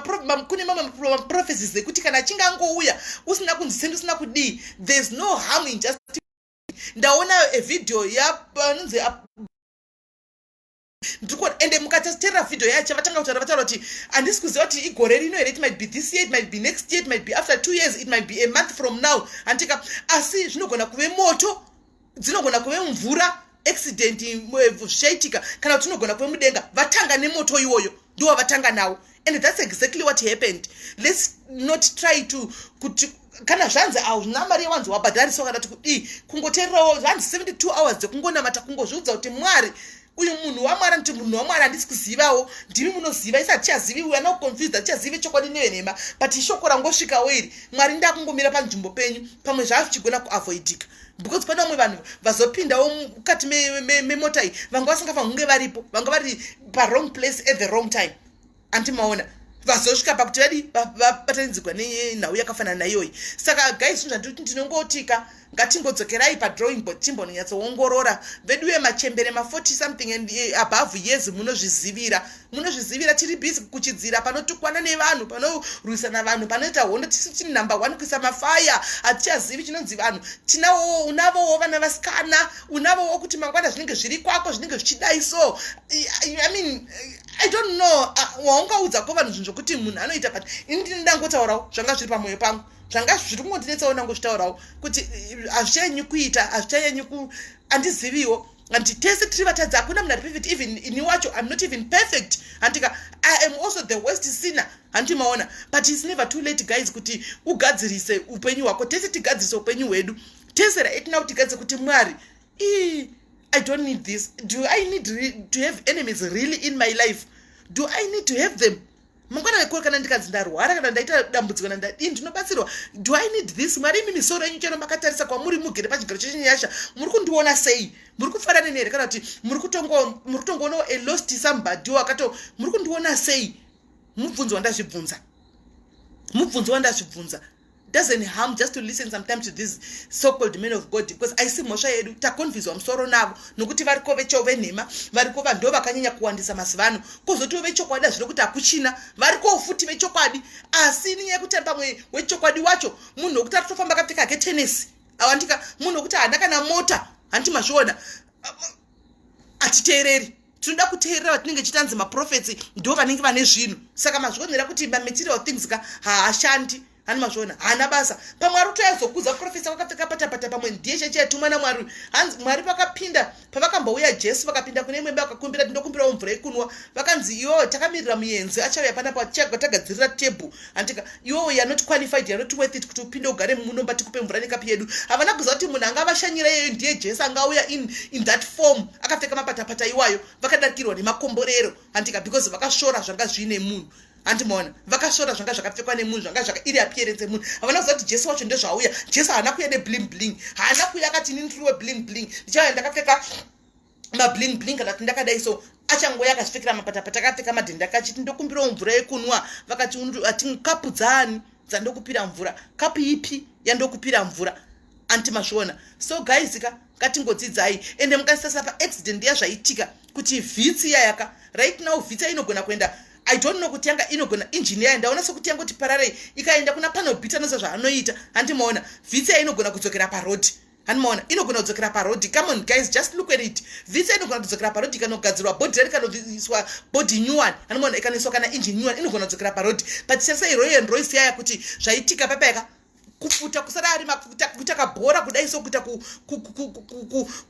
kune mamwe maprophecies ekuti kana achinge angouya usina kunzi sendi usina kudii thereis no harm in just ndaona evideo yaanonzi ndikuona ende mukataterera video yacho vatanga kutaura vataura kuti handisi kuziva kuti igore rino here it might be this year it might be next year it might be after two years it might be a month from now handika asi zvinogona kuve moto dzinogona kuve mvura accident zvaitika kana kuti unogona kuve mudenga vatanga nemoto iwoyo ndiwo vatanga nawo and that's exactly what happened let's not try to kuti kana zvanzi hauna mari yewanzi wabhadhariso kana kuti kudii kungoteererawo zvanzi 72 hours dzekungonamata kungozviudza kuti mwari uyu munhu wamwari anoti munhu wamwari handisi kuzivawo ndimi munoziva isa hatichazivi uya noconfused hatichazive chokwadi nevenhema but ishoko rangosvikawo iri mwari ndakungomira panzvimbo penyu pamwe zvava zvichigona kuavoidika because pane vamwe vanhu vazopindawo mukati memota iyi vanga vasingafanhunge varipo vanga vari parong place at the wrong time anti maona vazosvika pakuti vadi vabatanidzigwa nenhau yakafanana naiyoyi saka guys zvinhu zvandiri kuti ndinongotika ngatingodzokerai padrawing board timbononyatsoongorora veduwe machembere ma40 something and eh, above years munozvizivira munozvizivira tiri busy kuchidzira panotukwana nevanhu panorwisana vanhu panoita hondo tisu tiri number one kuisa mafaya hatichazivi chinonzi vanhu tinawo unavowo vana vasikana unavowo kuti mangwana zvinenge zviri kwako zvinenge zvichidai so i mean i don't know ah, waungaudza ko vanhu zvinhu zvokuti munhu anoita but ini ndini ndangotaurawo zvanga zviri pamwoyo pangu zvanga zviri kungondinetsawo ndangozvitaurawo kuti eh, hazvichanyanyi kuita hazvichanyanyi ku handiziviwo hanti tese tiri vatadzi hakuna munhu ari perfect even ini wacho im not even perfect handika i am also the west sinner hanti maona but its never too late guys kuti ugadzirise upenyu hwako tese tigadzirise upenyu hwedu tese raitina kuti tigadze kuti mwari Ii, i don't need this do i need to have enemies really in my life do i need to have them mangwana wekua kana ndikanzi ndarwara kana ndaita dambudziko nandadii ndinobatsirwa do i need this mwari imi misoro yenyu chero makatarisa kwamuri mugere pachigaro chechinyasha muri kundiona sei muri kufara neni here kana kuti muri kutongoonawo a lost somebody wakato muri kundiona sei mubvunzo wandazvibvunza mubvunzo wandazvibvunza doesn't harm just to listen sometimes to these so called men of god because aisi mhosva yedu takonfizwa musoro navo nokuti variko vecho venhema variko vanhu ndo vakanyanya kuwandisa mazuva ano kozotiwo vechokwadi hazvino kuti hakuchina varikowo futi vechokwadi asi ininye yekuti pamwe wechokwadi wacho munhu wekuti ari kutofamba kapfeka ketenesi awandika munhu wekuti haana kana mota handiti mazviona atiteereri tinoda kuteerera vatinenge chitanzi maprofets ndo vanenge vane zvinhu saka mazvionera kuti mamaterial things ka haashandi hani mazviona haana basa pamwe ari kutoyazokudza profesa vakapfeka patapata pamwe ndiye cheche yatumwa namwari hanzi mwari vakapinda pavakambouya jesu vakapinda kune imwe imba vakakumbira tindokumbirawo mvura yekunwa vakanzi iyo takamirira muyenzi achauya panapa tichagwa tagadzirira tebhu handika iwewo you're not qualified you're not worth it kuti upinde ugare munomba tikupe mvura nekapi yedu havana kuziva kuti munhu anga vashanyira iyeyo ndiye jesu anga auya in, in that form akapfeka mapatapata iwayo vakadarikirwa nemakomborero handika because vakashora zvanga zviine munhu handimaona vakashora zvanga zvakapfekwa nemunhu zvanga zvaka iri appearance yemunhu havana kuziva kuti jesu wacho ndezvauya jesu haana kuya nebling bling haana kuya akati ini ndiriwe bling bling ndichauya ndakapfeka mabling bling kana kuti ndakadai so achangouya akasvikira mapata patakapfeka madhende akachiti ndokumbirawo mvura yekunwa vakati ati kapu dzaani dzandokupira mvura kapu ipi yandokupira mvura anti mazviona so guys ka ngatingodzidzai ende mukasitasa paaccident yazvaitika kuti vhitsi iyayaka right now vhitsi yainogona kuenda i don't know kuti yanga inogona injini yayo ndaona sekuti yanga kuti pararei ikaenda kuna panobita nosa zvaanoita handimaona vhitsi yainogona kudzokera parodi hanimaona inogona kudzokera parodhi come on guys just look at it visa inogona kudzokera parodhi ikanogadzirwa bhodhi rari kanoiswa bhodhi new one hanimaona ikanoiswa kana engine new one inogona kudzokera parodhi but sese iroyo and roisi yaya kuti zvaitika papa yaka kufuta kusada ari mafuta kuita kabhora kudai so kuita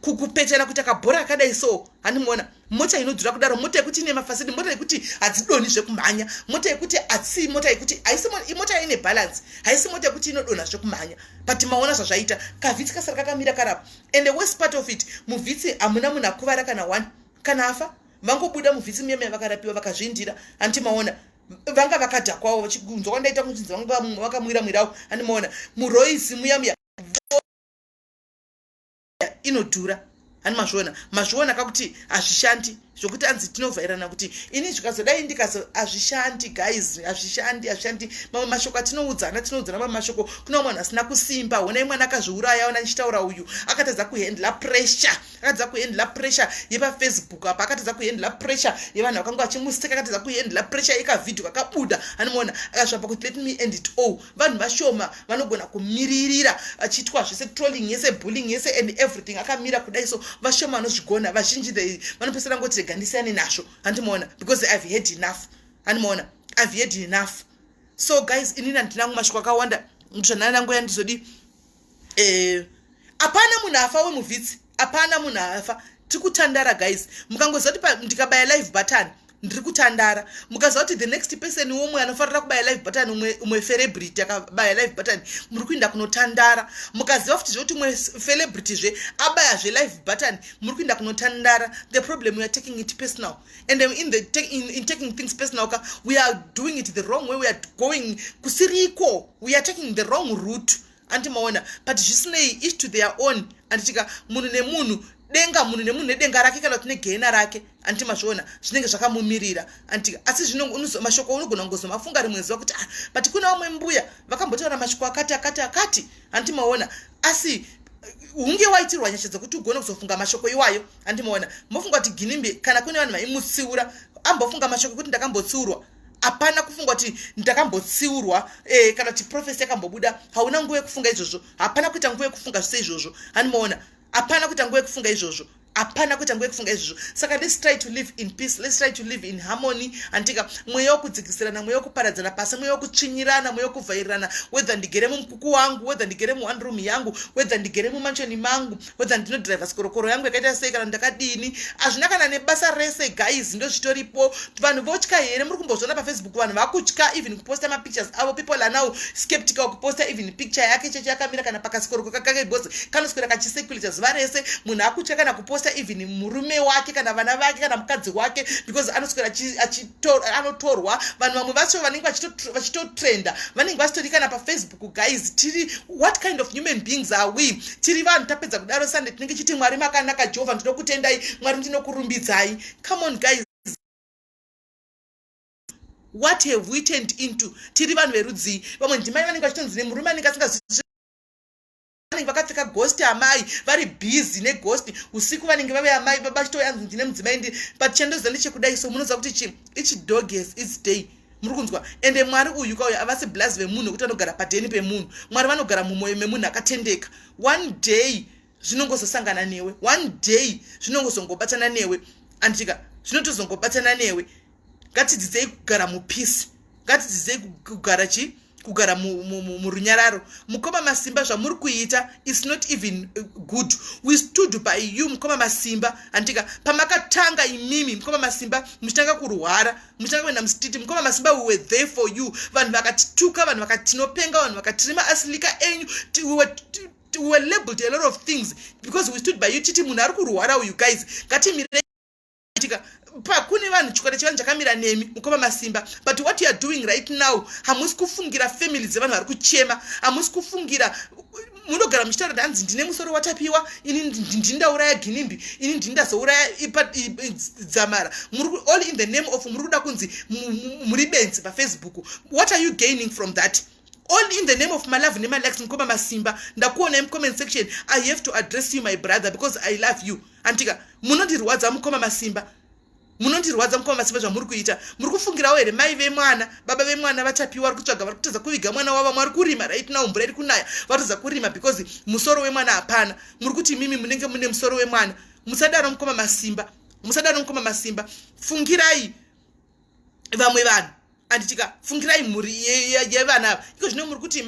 kupetana kuita kabhora akadai so handimuona mota inodhura kudaro mota yekuti ine mafasidi mota yekuti hadzidoni zvekumhanya mota yekuti hatsi mota yekuti haisi mota yaine balance haisi mota yekuti inodonha zvekumhanya but maona zvazvaita kavhitsi kasara kakamira karapo and the worst part of it muvhitsi hamuna munhu akuvara kana one kana afa vangobuda muvhitsi muya muya vakarapiwa vakazviindira hanti maona vanga vakadhakwawo vachikunzwa kwandaita kuchinzi vanga vakamwira mwirawo handimaona muroisi muya muya inodhura hani mazviona mazviona kakuti hazvishandi zvokuti anzi tinovhairana kuti ini zvikazodai ndikazo hazvishandi guys hazvishandi hazvishandi mamwe mashoko atinoudzana tinoudzana mamwe mashoko kuna umwe vanhu asina kusimba honai mwana akazviuraya ona ndichitaura uyu akatadza kuhendla pressure akatadza kuhendla pressure yepafacebook apa akatadza kuhendla pressure yevanhu vakanga vachimuseka akatadza kuhendla pressure yekavhidhio kakabuda hanimuona akazvapa kuti let me end it all vanhu vashoma vanogona kumiririra vachiitwa zvese trolling yese bullying yese and everything akamira kudai so vashoma vanozvigona vazhinji the vanopesera ngoti rega ndisiyane nazvo handimaona because ihave head enough handimaona ihave head enough so guys inini handina kumashoko akawanda zvanana nangu yandizodii eh, hapana munhu afa wemuvhitsi hapana munhu afa tiri kutandara guys mukangoziva kuti ndikabaya live button ndiri kutandara mukaziva kuti the next person womwe anofanira kubaya live button umwe celebrity akabaya live button muri kuinda kunotandara mukaziva futi zvekuti umwe celebrity zve abaya zve live button muri kuinda kunotandara the problem weare taking it personal and um, in, the, in, in taking things personal ka we are doing it the wrong way we are going kusiriko we are taking the wrong route andi maona but zvisinei each to their own anditika munhu nemunhu denga munhu nemunhu nedenga rake kana kuti negehena rake anditi mazviona zvinenge zvakamumirira anditika asi zvinomashoko unogona kungozomafunga rimwe zuva kuti ah but kuna vamwe mbuya vakambotaura mashoko akati akati akati anditi maona asi hunge waitirwa nyasha dzekuti ugone kuzofunga mashoko iwayo andimoona mofunga kuti ginimbi kana kune vanhu vaimutsiura ambofunga mashoko ekuti ndakambotsiurwa hapana kufunga kuti ndakambotsiurwa e, kana kuti profesi yakambobuda hauna nguva yekufunga izvozvo hapana kuita nguva yekufunga zvise izvozvo andimoona hapana kuita nguva yekufunga izvozvo hapana kuita nguva yekufunga izvozvo saka let's try to live in peace let's try to live in harmony antika mweya wokudzikisirana mweya wokuparadzana pasi mweya wokutsvinyirana mweya wokuvhairirana wedha ndigere mumukuku wangu wedha ndigere muone room yangu wedha ndigere mumanshoni mangu whether ndinodriver sikorokoro yangu yakaita sei kana ndakadini hazvina kana nebasa rese guys ndozvitoripo vanhu votya here muri kumbozviona pafacebook vanhu vakutya even kuposta mapictures avo people are now skeptical kuposta even picture yake cheche yakamira kana pakasikoroko kakake because kanoswera kachiseculator zuva rese munhu akutya kana kuposta even murume wake kana vana vake kana mukadzi wake because anoswera anotorwa vanhu vamwe vacho vanenge vachitotrenda vanenge vasitori kana pafacebook guys tiri what kind of human beings are we tiri vanhu tapedza kudaro sande tinenge chiti mwari makanaka jehovha ndinokutendai mwari ndinokurumbidzai come on guys what have we turned into tiri vanhu verudzii vamwe ndimai vanenge vachitonzi nemurume anenge asingazii vanenge vakapfeka ghost amai vari busy neghost usiku vanenge vave amai baba chitoyanzi ndine mudzimai ndi but chandoziva ndechekudai so munoziva kuti chi ichi dog has its day muri kunzwa ende mwari uyu kauya avasi blazi vemunhu wekuti vanogara padheni pemunhu mwari vanogara mumwoyo memunhu akatendeka one day zvinongozosangana newe one day zvinongozongobatana newe anditika zvinotozongobatana newe ngatidzidzei kugara mupeace ngatidzidzei kugara chii kugara murunyararo mukoma masimba zvamuri kuita is not even uh, good we stood by you mukoma masimba handika pamakatanga imimi mukoma masimba muchitanga kurwara muchitanga kuenda mustiti mukoma masimba we were there for you vanhu vakatituka vanhu vakatinopenga vanhu vakatirima asilika enyu we were labeled a lot of things because we stood by you titi munhu ari kurwara uyu guys ngatimirei itika pakune vanhu chikwata chevanhu chakamira nemi mukoma masimba but what youare doing right now hamusi kufungira family dzevanhu vari kuchema hamusi kufungira munogara muchitaura kuti hanzi ndine musoro watapiwa ini ndini ndauraya ginimbi ini ndini ndazouraya dzamara all in the name of muri kuda kunzi muri benzi pafacebook what are you gaining from that all in the name of my love nemalex mukoma masimba ndakuonai mucomment section i have to address you my brother because i love you handika munondirwadza mukoma masimba munondirwadza mukoma masimba zvamuri kuita muri kufungirawo here mai vemwana baba vemwana vatapiwa vari kutsvaga vari kutadza kuviga mwana wavo mwari kurima right now mvura iri kunaya vatadza kurima because musoro wemwana hapana muri kuti imimi munenge mune musoro wemwana musadaro mukoma masimba musadaro mukoma masimba fungirai vamwe vanhu and tika fungirai mhuri yevana ava iko zvino muri kuti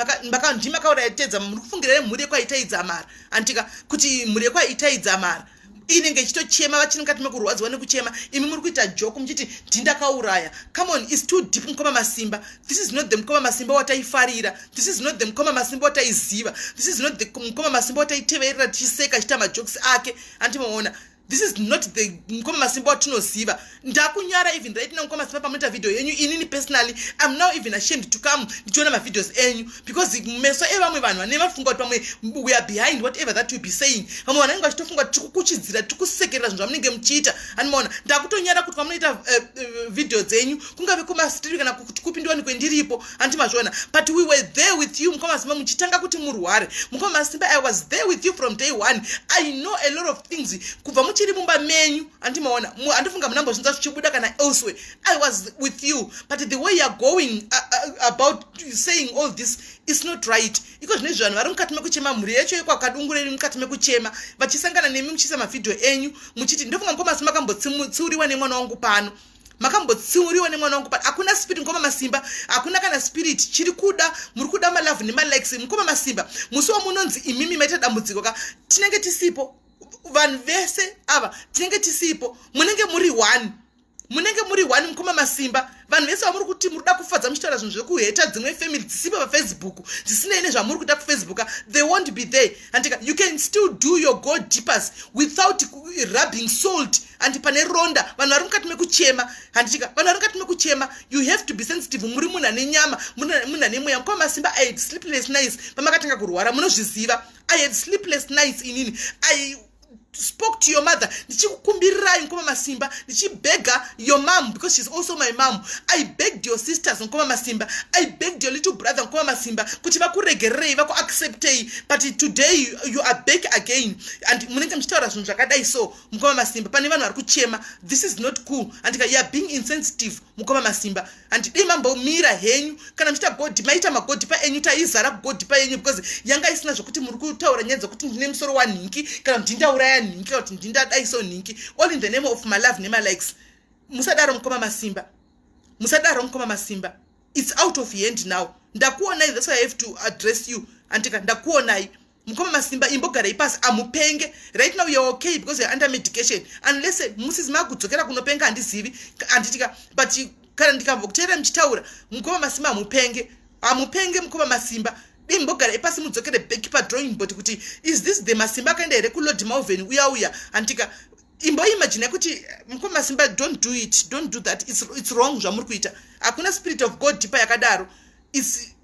ndi makauraya tedza muri kufungirai mhuri yekwaitayidza mara and tika kuti mhuri yekwaitayidza mara inenge ichitochema vachiri mukati mekurwadziwa nekuchema imi muri kuita joku muchiti ndindakauraya come on is too deep mukoma masimba this is not the mukoma masimba wataifarira this is not the mukoma masimba wataiziva this is not the mukoma masimba wataiteverera tichiseka achita majokes ake andimaona this is not the mukoma masimba watinoziva ndakunyara even right now mukoma masimba pamunoita video yenyu inini personally im now even ashamed to come ndichiona mavideos enyu because meso evamwe vanhu vane vafunga kuti pamwe we are behind whatever that you be saying vamwe vanenge vachitofunga kuti tikukuchidzira tikusekerera zvinhu zvamunenge muchiita andimaona ndakutonyara kuti kwamunoita eh, eh, video dzenyu kungave kumastreet kana kuti kupi ndiwani kwendiripo hanti mazviona but we were there with you mukoma masimba muchitanga kuti murware mukoma masimba i was there with you from day one i know a lot of things kubva muchiri mumba menyu hanti maona handifunga munambozvinza zvichibuda kana elsewhere i was with you but the way youare going uh, uh, about saying all this is not right iko zvine zvivanhu vari mukati mekuchema mhuri yacho yekwakadungureri mukati mekuchema vachisangana nemi muchiisa mavhidhiyo enyu muchiti ndofunga mukoma masimba akambotsiuriwa nemwana wangu pano makambotsiuriwa nemwana wangu but hakuna spirit mukoma masimba hakuna kana spirit chiri kuda muri kuda malove nemalikes mukoma masimba musi wamunonzi imimi maita dambudziko ka tinenge tisipo vanhu vese ava tinenge tisipo munenge muri one munenge muri one mukoma masimba vanhu vese vamuri kuti muri kuda kufadza muchitaura zvinhu zvekuheta dzimwe family dzisipo pafacebook dzisinei nezvamuri kuda kufacebook they won't be there handika you can still do your go deepers without rubbing salt handi pane ronda vanhu vari mukati mekuchema handitika vanhu vari mukati mekuchema you have to be sensitive muri munhu ane nyama munhu ane mweya mukoma masimba i had sleepless nice pamakatanga kurwara munozviziva i had sleepless nice inini i spoke to your mother ndichikukumbirirai mukoma masimba ndichibega your mom because she's also my mom i begged your sisters mukoma masimba i begged your little brother mukoma masimba kuti vakuregererei vakuacceptei but today you, you are back again and munenge muchitaura zvinhu zvakadai so mukoma masimba pane vanhu vari kuchema this is not cool andika youare being insensitive mukoma masimba handidei mambomira henyu kana muchiita godhi maita magodhi paenyu taizara kugodhi paenyu because yanga isina zvekuti muri kutaura nyaya dzekuti ndine musoro wanhinki kana kuti ndindauraya nhinki kana kuti ndindadaiso nhinki all in the name of malove nemalikes musadaro mukoma masimba musadaro mukoma masimba its out of hand now ndakuonai that's why i have to address you andika ndakuonai mukoma masimba imbogarai pasi amupenge right now you're okay because you're under medication unless eh, musizi makudzokera kunopenga handizivi handitika but kana ndikabva kuteera muchitaura mukoma masimba amupenge amupenge mukoma masimba dei mbogara ipasi mudzokere back padrawing board kuti is this the masimba akaenda here kulord malven uya uya handitika imboimagina kuti eh, mukoma masimba don't do it don't do that it's, it's wrong zvamuri kuita hakuna spirit of god tipa yakadaro is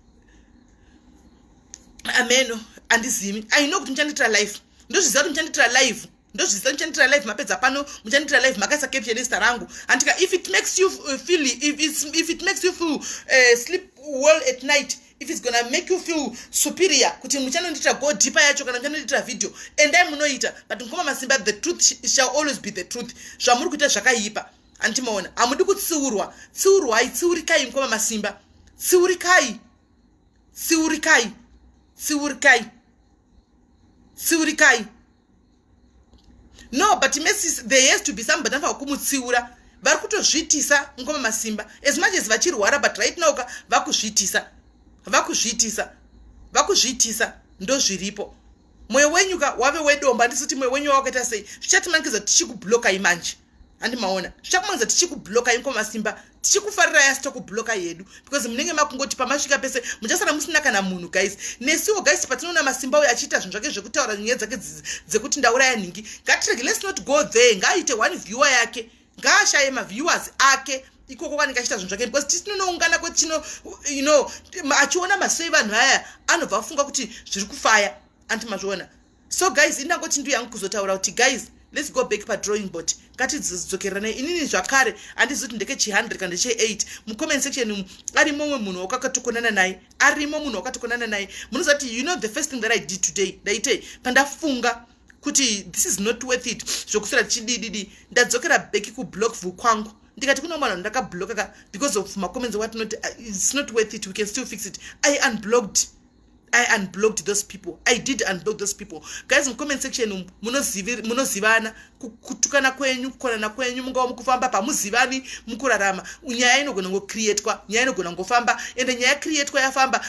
ameno andizivi i know kuti muchanditira life ndozviziva kuti muchanditira life ndozviziva muchanditira life mapedza pano muchanditira life makaisa caption ezita rangu andika if it makes you uh, feel if, if it makes you feel uh, sleep well at night if it's gonna make you feel superior kuti muchanondiitira go deeper yacho kana muchanondiitira video endai munoita but mukoma masimba the truth shall always be the truth zvamuri kuita zvakaipa hanti maona hamudi kutsiurwa tsiurwai tsiurikai mkoma masimba tsiurikai tsiurikai tsiurikai tsiurikai no but mesis there has to be somebody anofa kumutsiura vari kutozviitisa mkoma masimba as much as vachirwara but right now ka vakuzviitisa vakuzviitisa vakuzviitisa ndozviripo mwoyo wenyu ka wave wedomba ndisiti mwoyo wenyu wawakaita sei zvichatimanikidza tichikublokai manje handi maona zvichakumanza tichikubloka inko masimba tichikufarirai asi tokubloka yedu because munenge makungoti pamasvika pese muchasara musina kana munhu guys nesiwo guys patinoona masimba uyo achiita zvinhu zvake zvekutaura nyaya dzake dzekuti ndauraya nhingi ngatirege let's not go there ngaaite one viewer yake ngaashaye maviewers ake ikoko kwanenge achiita zvinhu zvake because tisi tinonoungana kwetino you know achiona masoi vanhu aya anobva afunga kuti zviri kufaya anti mazviona so guys indangoti ndu yangu kuzotaura kuti guys let's go back padrawing board ngatidzokerane inini zvakare handizi kuti ndeke chi 100 kana che 8 mucomment section umu arimo umwe munhu wakakatokonana naye arimo munhu wakatokonana naye munoziva kuti you know the first thing that i did today ndaitei pandafunga kuti this is not worth it zvokusira tichidididi ndadzokera beki kublock vhu kwangu ndikati kune mwana ndakablockaka because of macomments watinoti uh, its not worth it we can still fix it i unblocked i unblocked those people i did unblock those people guys mucomment section umu munozivana kutukana kwenyu kukonana kwenyu mungava mukufamba pamuzivani mukurarama nyaya inogona ngocreatwa nyaya inogona ngofamba ende nyaya creatwa yafamba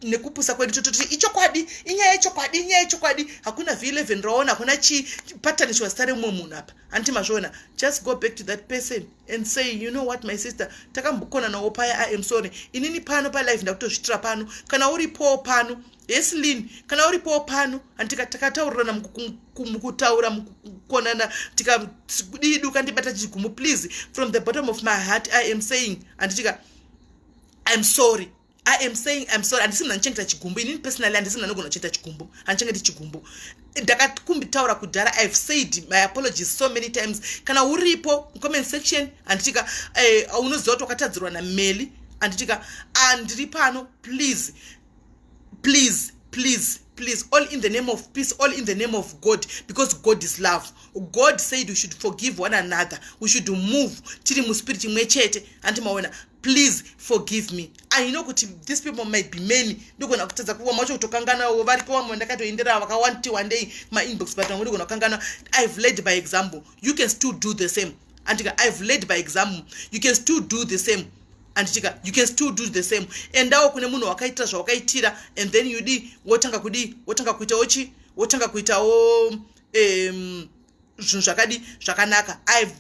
nekupusa kwedu tototi ichokwadi inyaya ichokwadi inyaya ichokwadi hakuna v11 raona hakuna chii patani chiwasitare mumwe munhu apa hanti mazviona just go back to that person and say you know what my sister takambokonanawo paya i am sorry inini pano palife ndakutozvitira pano kana uripowo pano yes lin kana uripowo pano andika takataurirana mukutaura mukukonana tikadii duka ndibata chigumo please from the bottom of my heart i am saying anditika iam sorry I am saying I'm sorry handisi munhu andichengeta chigumbu inini personally handisi munhu anogona kuchengeta chigumbu handichengeti chigumbu ndakakumbitaura kudhara I've said my apologies so many times kana uripo comment section handitika eh, unoziva kuti wakatadzirwa nameli handitika ah, ndiri pano please please please please all in the name of peace all in the name of god because god is love god said we should forgive one another we should move tiri muspirit imwe chete handimaona please forgive me i know kuti these people might be many ndogona kutadza kuva macho kutokanganawo variko vamwe ndakatoendera vakawandi wandei mainbox but vamwe ndogona kukangana ive led by example you can still do the same andika ive led by example you can still do the same anditika you can still do the same endawo kune munhu wakaitira zvawakaitira and then you di wotanga kudi wotanga kuitawo chi wotanga kuitawo um, zvinhu zvakadi zvakanaka ive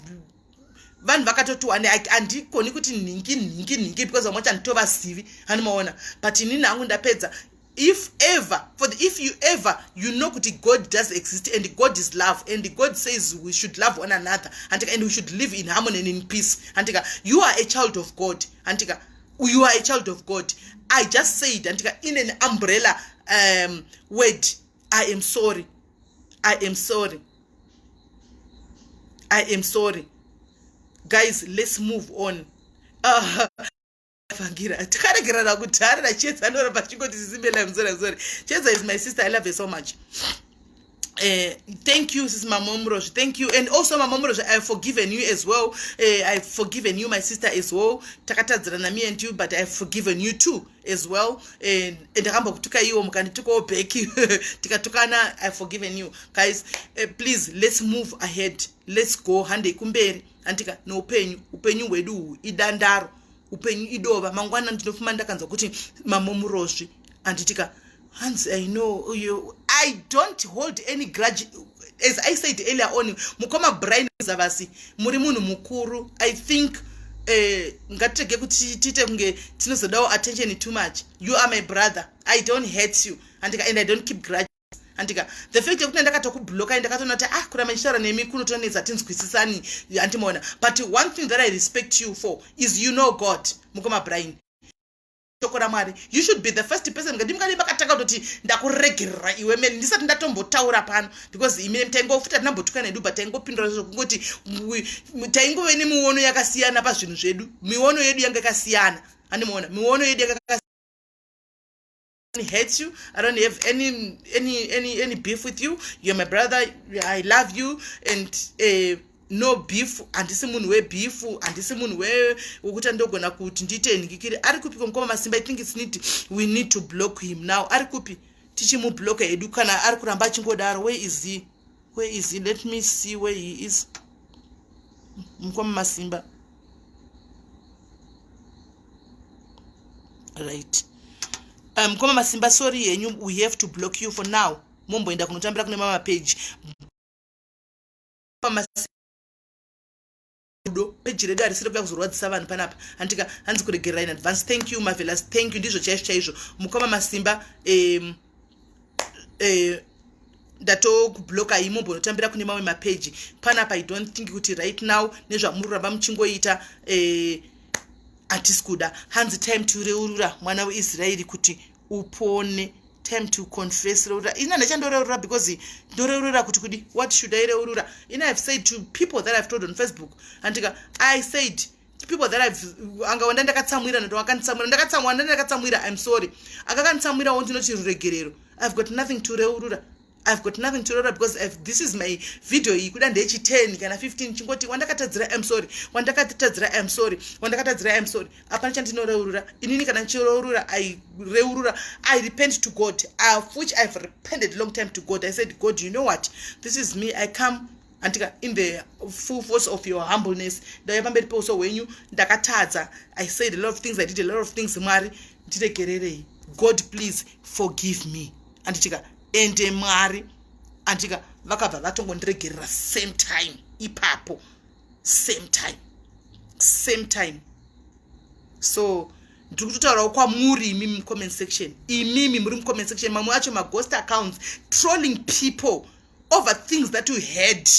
vanhu vakatotiwa handikoni kuti nhingi nhingi nhingi because vamwe chanditovasivi hanimaona but inini hangu ndapedza if ever for the, if you ever you know kuti god does exist and god is love and god says we should love one another handika and we should live in harmony and in peace handika you are a child of god handika you are a child of god i just said handika in an umbrella um, word i am sorry i am sorry i am sorry guys let's move on uh, vangira tikaregerana kudhara nacheza anoramba achingoti sisimela mzora mzora cheza is my sister i love her so much Uh, thank you sis mamomrosh thank you and also mamomrosh i have forgiven you as well uh, eh, i've forgiven you my sister as well takatadzirana me and you but i've forgiven you too as well eh, ndakambokutuka iwo mukanditukawo back tikatukana i forgiven you guys eh, please let's move ahead let's go handei kumberi handika noupenyu upenyu hwedu uhu idandaro upenyu idova mangwana ndinofuma ndakanzwa kuti mamomurozvi handitika hanzi i know you, i don't hold any grudge as i said earlier on mukoma brian zavasi muri munhu mukuru i think eh, ngatitege kuti tiite kunge tinozodawo attention too much you are my brother i don't hate you andika and i don't keep grudge andika the fact yekuti ndakatokubloka ndakatoona kuti ah kuramba ndichitaura nemi kunotonetsa tinzwisisani andimaona but one thing that i respect you for is you know god mukoma brian shoko ramwari you should be the first person ngati mukadii makatanga kutoti ndakuregerera iwe mene ndisati ndatombotaura pano because imene taingofuta tinambotukana edu but taingopindura zvokungoti taingove nemiono yakasiyana pazvinhu zvedu miono yedu yanga yakasiyana andimuona miono yedu yanga yakasiyana hate you i don't have any any any any beef with you you're my brother i love you and uh, no beef handisi munhu webeef handisi munhu wekuti andogona kuti ndiite nhikikiri ari kupi komukoma masimba i think its need we need to block him now ari kupi tichimubloka hedu kana ari kuramba achingodaro where is he where is he let me see where he is mukoma masimba right um, mukoma masimba sorry henyu we have to block you for now momboenda kunotambira kune mama page pamasi rudo peji redu harisiri kuda kuzorwadzisa vanhu panapa handika hanzi kuregerera in advance thank you mavelas thank you ndizvo chaizvo chaizvo mukoma masimba um, um, ndatokubloka imo mbonotambira kune mamwe mapeji panapa i don't think kuti right now nezvamuri kuramba muchingoita eh, hatisi kuda hanzi time to reurura mwana weisraeri kuti upone time to confess reurura ina ndachandoreurura because ndoreurura kuti kudi what should i reurura ina have said to people that i've told on facebook andika i said people that i've anga wanda ndakatsamwira ndoto akanditsamwira ndakatsamwira ndandakatsamwira i'm sorry akakanditsamwirawo ndinoti ruregerero i've got nothing to reurura i've got nothing to rora because I've, this is my video iyi kuda ndechi 10 kana 15 chingoti wandakatadzira im sorry wandakatadzira im sorry wandakatadzira im sorry hapana chandinoreurura inini kana ndichireurura i reurura i repent to god of which i've repented long time to god i said god you know what this is me i come andika in the full force of your humbleness ndauya pamberi peuso hwenyu ndakatadza i said a lot of things i did a lot of things mwari ndiregererei god please forgive me anditika ende mwari anditika vakabva vatongondiregerera same time ipapo same time same time so ndiri kutotaurawo kwamuri imi mucomment section imimi muri mucomment section mamwe acho maghost accounts trolling people over things that you heard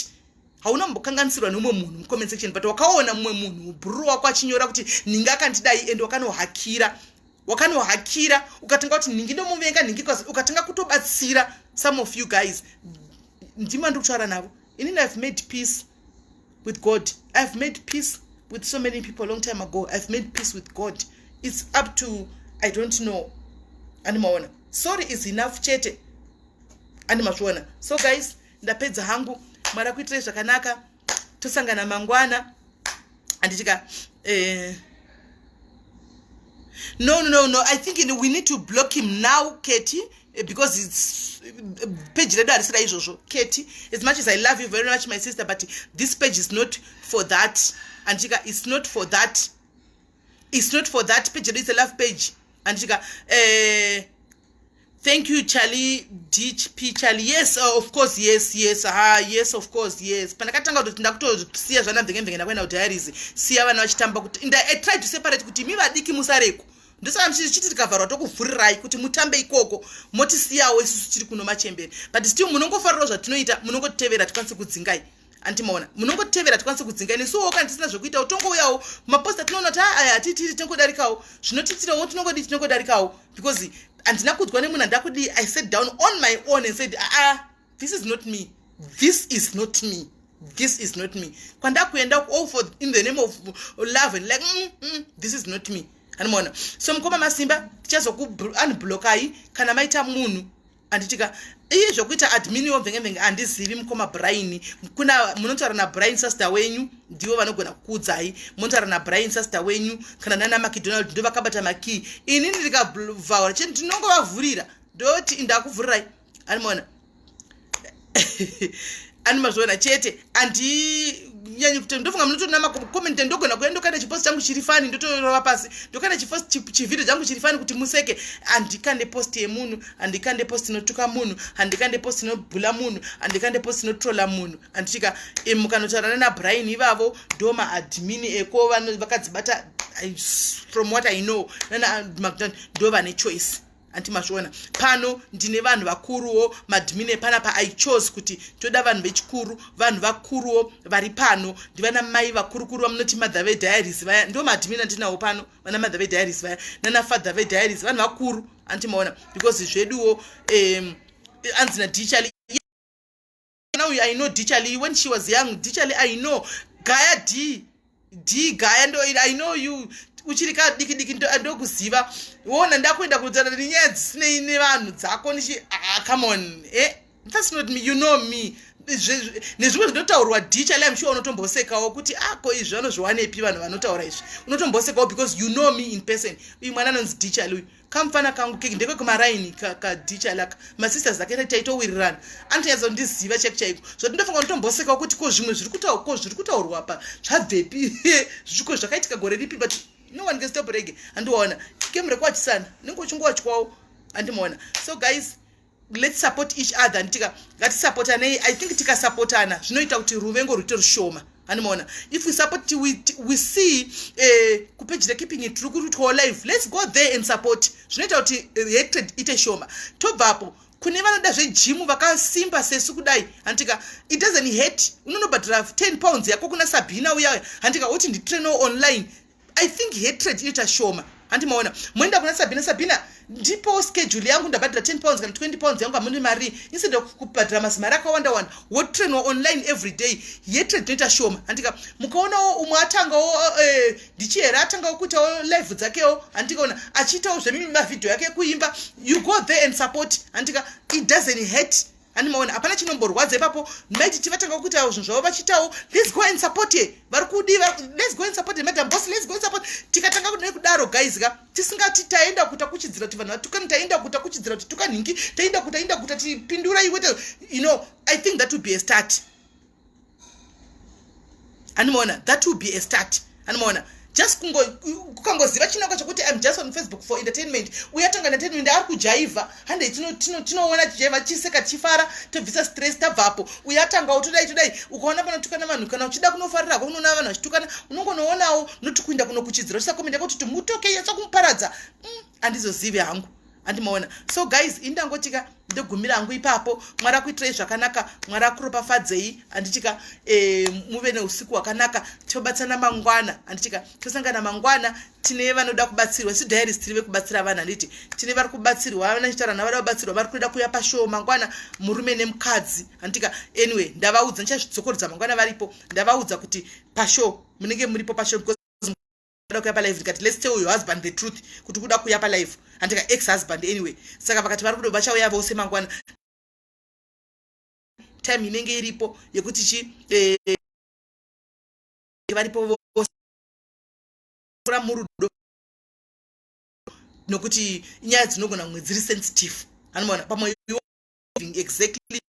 hauna mbokanganisirwa neumwe munhu mucomment section but wakaona mumwe munhu bhuru wako achinyora kuti ninga akandidai and wakanohakira wakanohakira ukatanga kuti nhingi ndomuvenga nhingi bcause ukatanga kutobatsira some of you guys ndima ndiri kutaura navo inini ihave made peace with god ihave made peace with so many people long time ago ihave made peace with god its up to i don't know animaona sorry is enough chete andimazviona so guys ndapedza hangu mwari akuitirei zvakanaka tosangana mangwana anditika eh, no no no i think we need to block him now keti eh, because its eh, page redu harisira izvozvo keti as much as i love you very much my sister but this page is not for that anditika its not for that its not for that page yedu its a love page anditika eh, thank you charlie dp charlie yes uh, of course yes yes ha yes of course yes pandakatanga kutoti ndakutosiya zvana mvenge mvenge ndakuenda kudiaries siya vana vachitamba kuti and i tried to separate kuti mi vadiki musareko ndosaka mchichiti tikavharwa tokuvhurirai kuti mutambe ikoko motisiyawo isusu tiri kuno machembere but still munongofarirawo zvatinoita munongotitevera tikwanise kudzingai andimaona munongotevera tikwanise kudzinga ini suwo kana tisina zvekuita utongouyawo maposta tinoona kuti ah, aya hatitiri tinongodarikawo zvinotiitirawo tinongodi tinongodarikawo because handina kudzwa nemunhu handida kudii i sat down on my own and said aa ah, this is not me this is not me this is not me kwandaa kuenda all oh, for in the name of love and like mm, mm, this is not me andimaona so mukoma masimba tichazokuunblockai kana maita munhu anditika iye zvokuita admin yomvengemvenge andizivi mukoma brain kuna munotaura nabrain sasta wenyu ndivo vanogona kukuudzai munotaura nabrain sasta wenyu kana nana macdonald ndo vakabata makii ini ndikavhaura chete ndinongovavhurira ndoti ndakuvhurirai animona ani mazviona chete andinyanyi kuti ndofunga munotoona namacoment ndogona kuya ndokaita chipost changu chiri fani ndotorova pasi ndokaita chipost chivhideo changu chiri fani kuti museke handikande post yemunhu handikande post inotuka munhu handikande post inobhula munhu handikande post inotrola munhu handitika mukanotaurana nabrian ivavo ndo maadmini eko vakadzibata from what i know nana magdan ndo vane choice anti mazviona pano ndine vanhu vakuruwo madmine pana pa i chose kuti toda vanhu vechikuru vanhu vakuruwo vari pano ndivana mai vakurukuru vamunoti mother vediaries vaya ndo madmine andinawo pano vana mother vediaries vaya nana father vediaries vanhu vakuru anti maona because zveduwo um, anzi nadichali mwana uyu i know dichali when she was young dichali i know gaya d d gaya ndo i know you uchiri ka diki diki ndokuziva wona ndakuenda kutana nenyaya dzisinei nevanhu dzako ndichi ah, come on eh that's not me you know me nezvimwe zvinotaurwa dicha le amsure unotombosekawo kuti ako ah, izvi vanozviwanepi vanhu vanotaura izvi unotombosekawo because you know me in person uyu mwana anonzi dicha luyu kamfana kangu keki ndekwe kumaraini kadicha laka masisters ake taitowirirana anotonyatsa kundiziva cheki chaiko zvoti ndofunga kutombosekawo kuti ko zvimwe zviri kutaura ko zviri kutaurwa pa zvabvepi zviko zvakaitika gore ripi but no one can stop rege andiwaona kemure kwachisana nenge uchingowachikwao andimaona so guys let's support each other and tika ngatisupportanei i think tikasupportana zvinoita kuti ruvengo rwuite rushoma animoona if we support we, we see eh, kupeji rekeeping it tiri kurutwawo live let's go there and support zvinoita kuti hatred ite shoma tobvapo kune vanoda zvejimu vakasimba sesu kudai hantika it doesn't hate unonobhadhara 10 pounds yako kuna sabhina uyaya hantika woti nditrainoo online i think hatred inoita shoma handi maona moenda kuna sabina sabina ndipo schedule yangu ndabhadhira 10 pounds kana 20 pounds yangu amune mari instead of kubhadhira mazimari akawanda wanda wotrainwa online every day yetred inoita shoma handika mukaonawo umwe atangawo eh, ndichihera atangawo kuitawo live dzakewo handikaona achiitawo zvemavhidhio yake kuimba you go there and support handika it doesn't hate ani maona hapana chinomborwadza ipapo maititi vatanga kuita zvinhu zvavo vachiitawo let's go and support ye vari kudii let's go and support madam boss let's go and support tikatanga kudai kudaro guys ka tisingati taenda kuta kuchidzira kuti vanhu vatukani taenda kuta kuchidzira kuti tukanhingi taenda kuta enda kuta tipindura iwe you know i think that would be a start animoona that will be a start animoona just kukangoziva chinangwa chokuti im just on facebook for entertainment uye atanga entertainment ari kujaivha handei tinoona tijaivha chiseka tichifara tobvisa stress tabvapo uye atangawo todai todai ukaona panotukana vanhu kana uchida kunofarira ko unoona vanhu vachitukana unongonoonawo noti kuinda kunokuchidzira uchisakomenda kuti timutoke yatsa kumuparadza mm, handizozivi hangu handi maona so guys ini ndangotika ndogumira hangu ipapo mwari akuitirai zvakanaka mwari akuropafadzei handitika e, eh, muve neusiku hwakanaka tobatsana mangwana handitika tosangana mangwana tine vanoda kubatsirwa si diarist tiri vekubatsira vanhu handiti tine vari kubatsirwa vana chitaura navo vada kubatsirwa vari kuda kuuya pashowo mangwana murume nemukadzi handitika anyway ndavaudza ndichazvidzokorodza mangwana varipo ndavaudza kuti pashowo munenge muripo pashowo kuda kuya palife ndikati let's tell your husband the truth kuti kuda kuya palife handika ex husband anyway saka vakati vari kudo vachauya vose mangwana time inenge iripo yekuti chi eh, varipo vose kura murudo nokuti nyaya dzinogona kumwe dziri sensitive anomaona pamwe exactly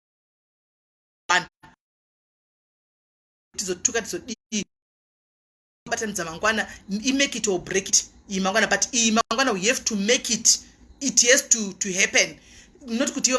tizotuka tizodii kubatanidza mangwana i make it or break it iyi mangwana but iyi mangwana we have to make it it has to, to happen not kuti iwe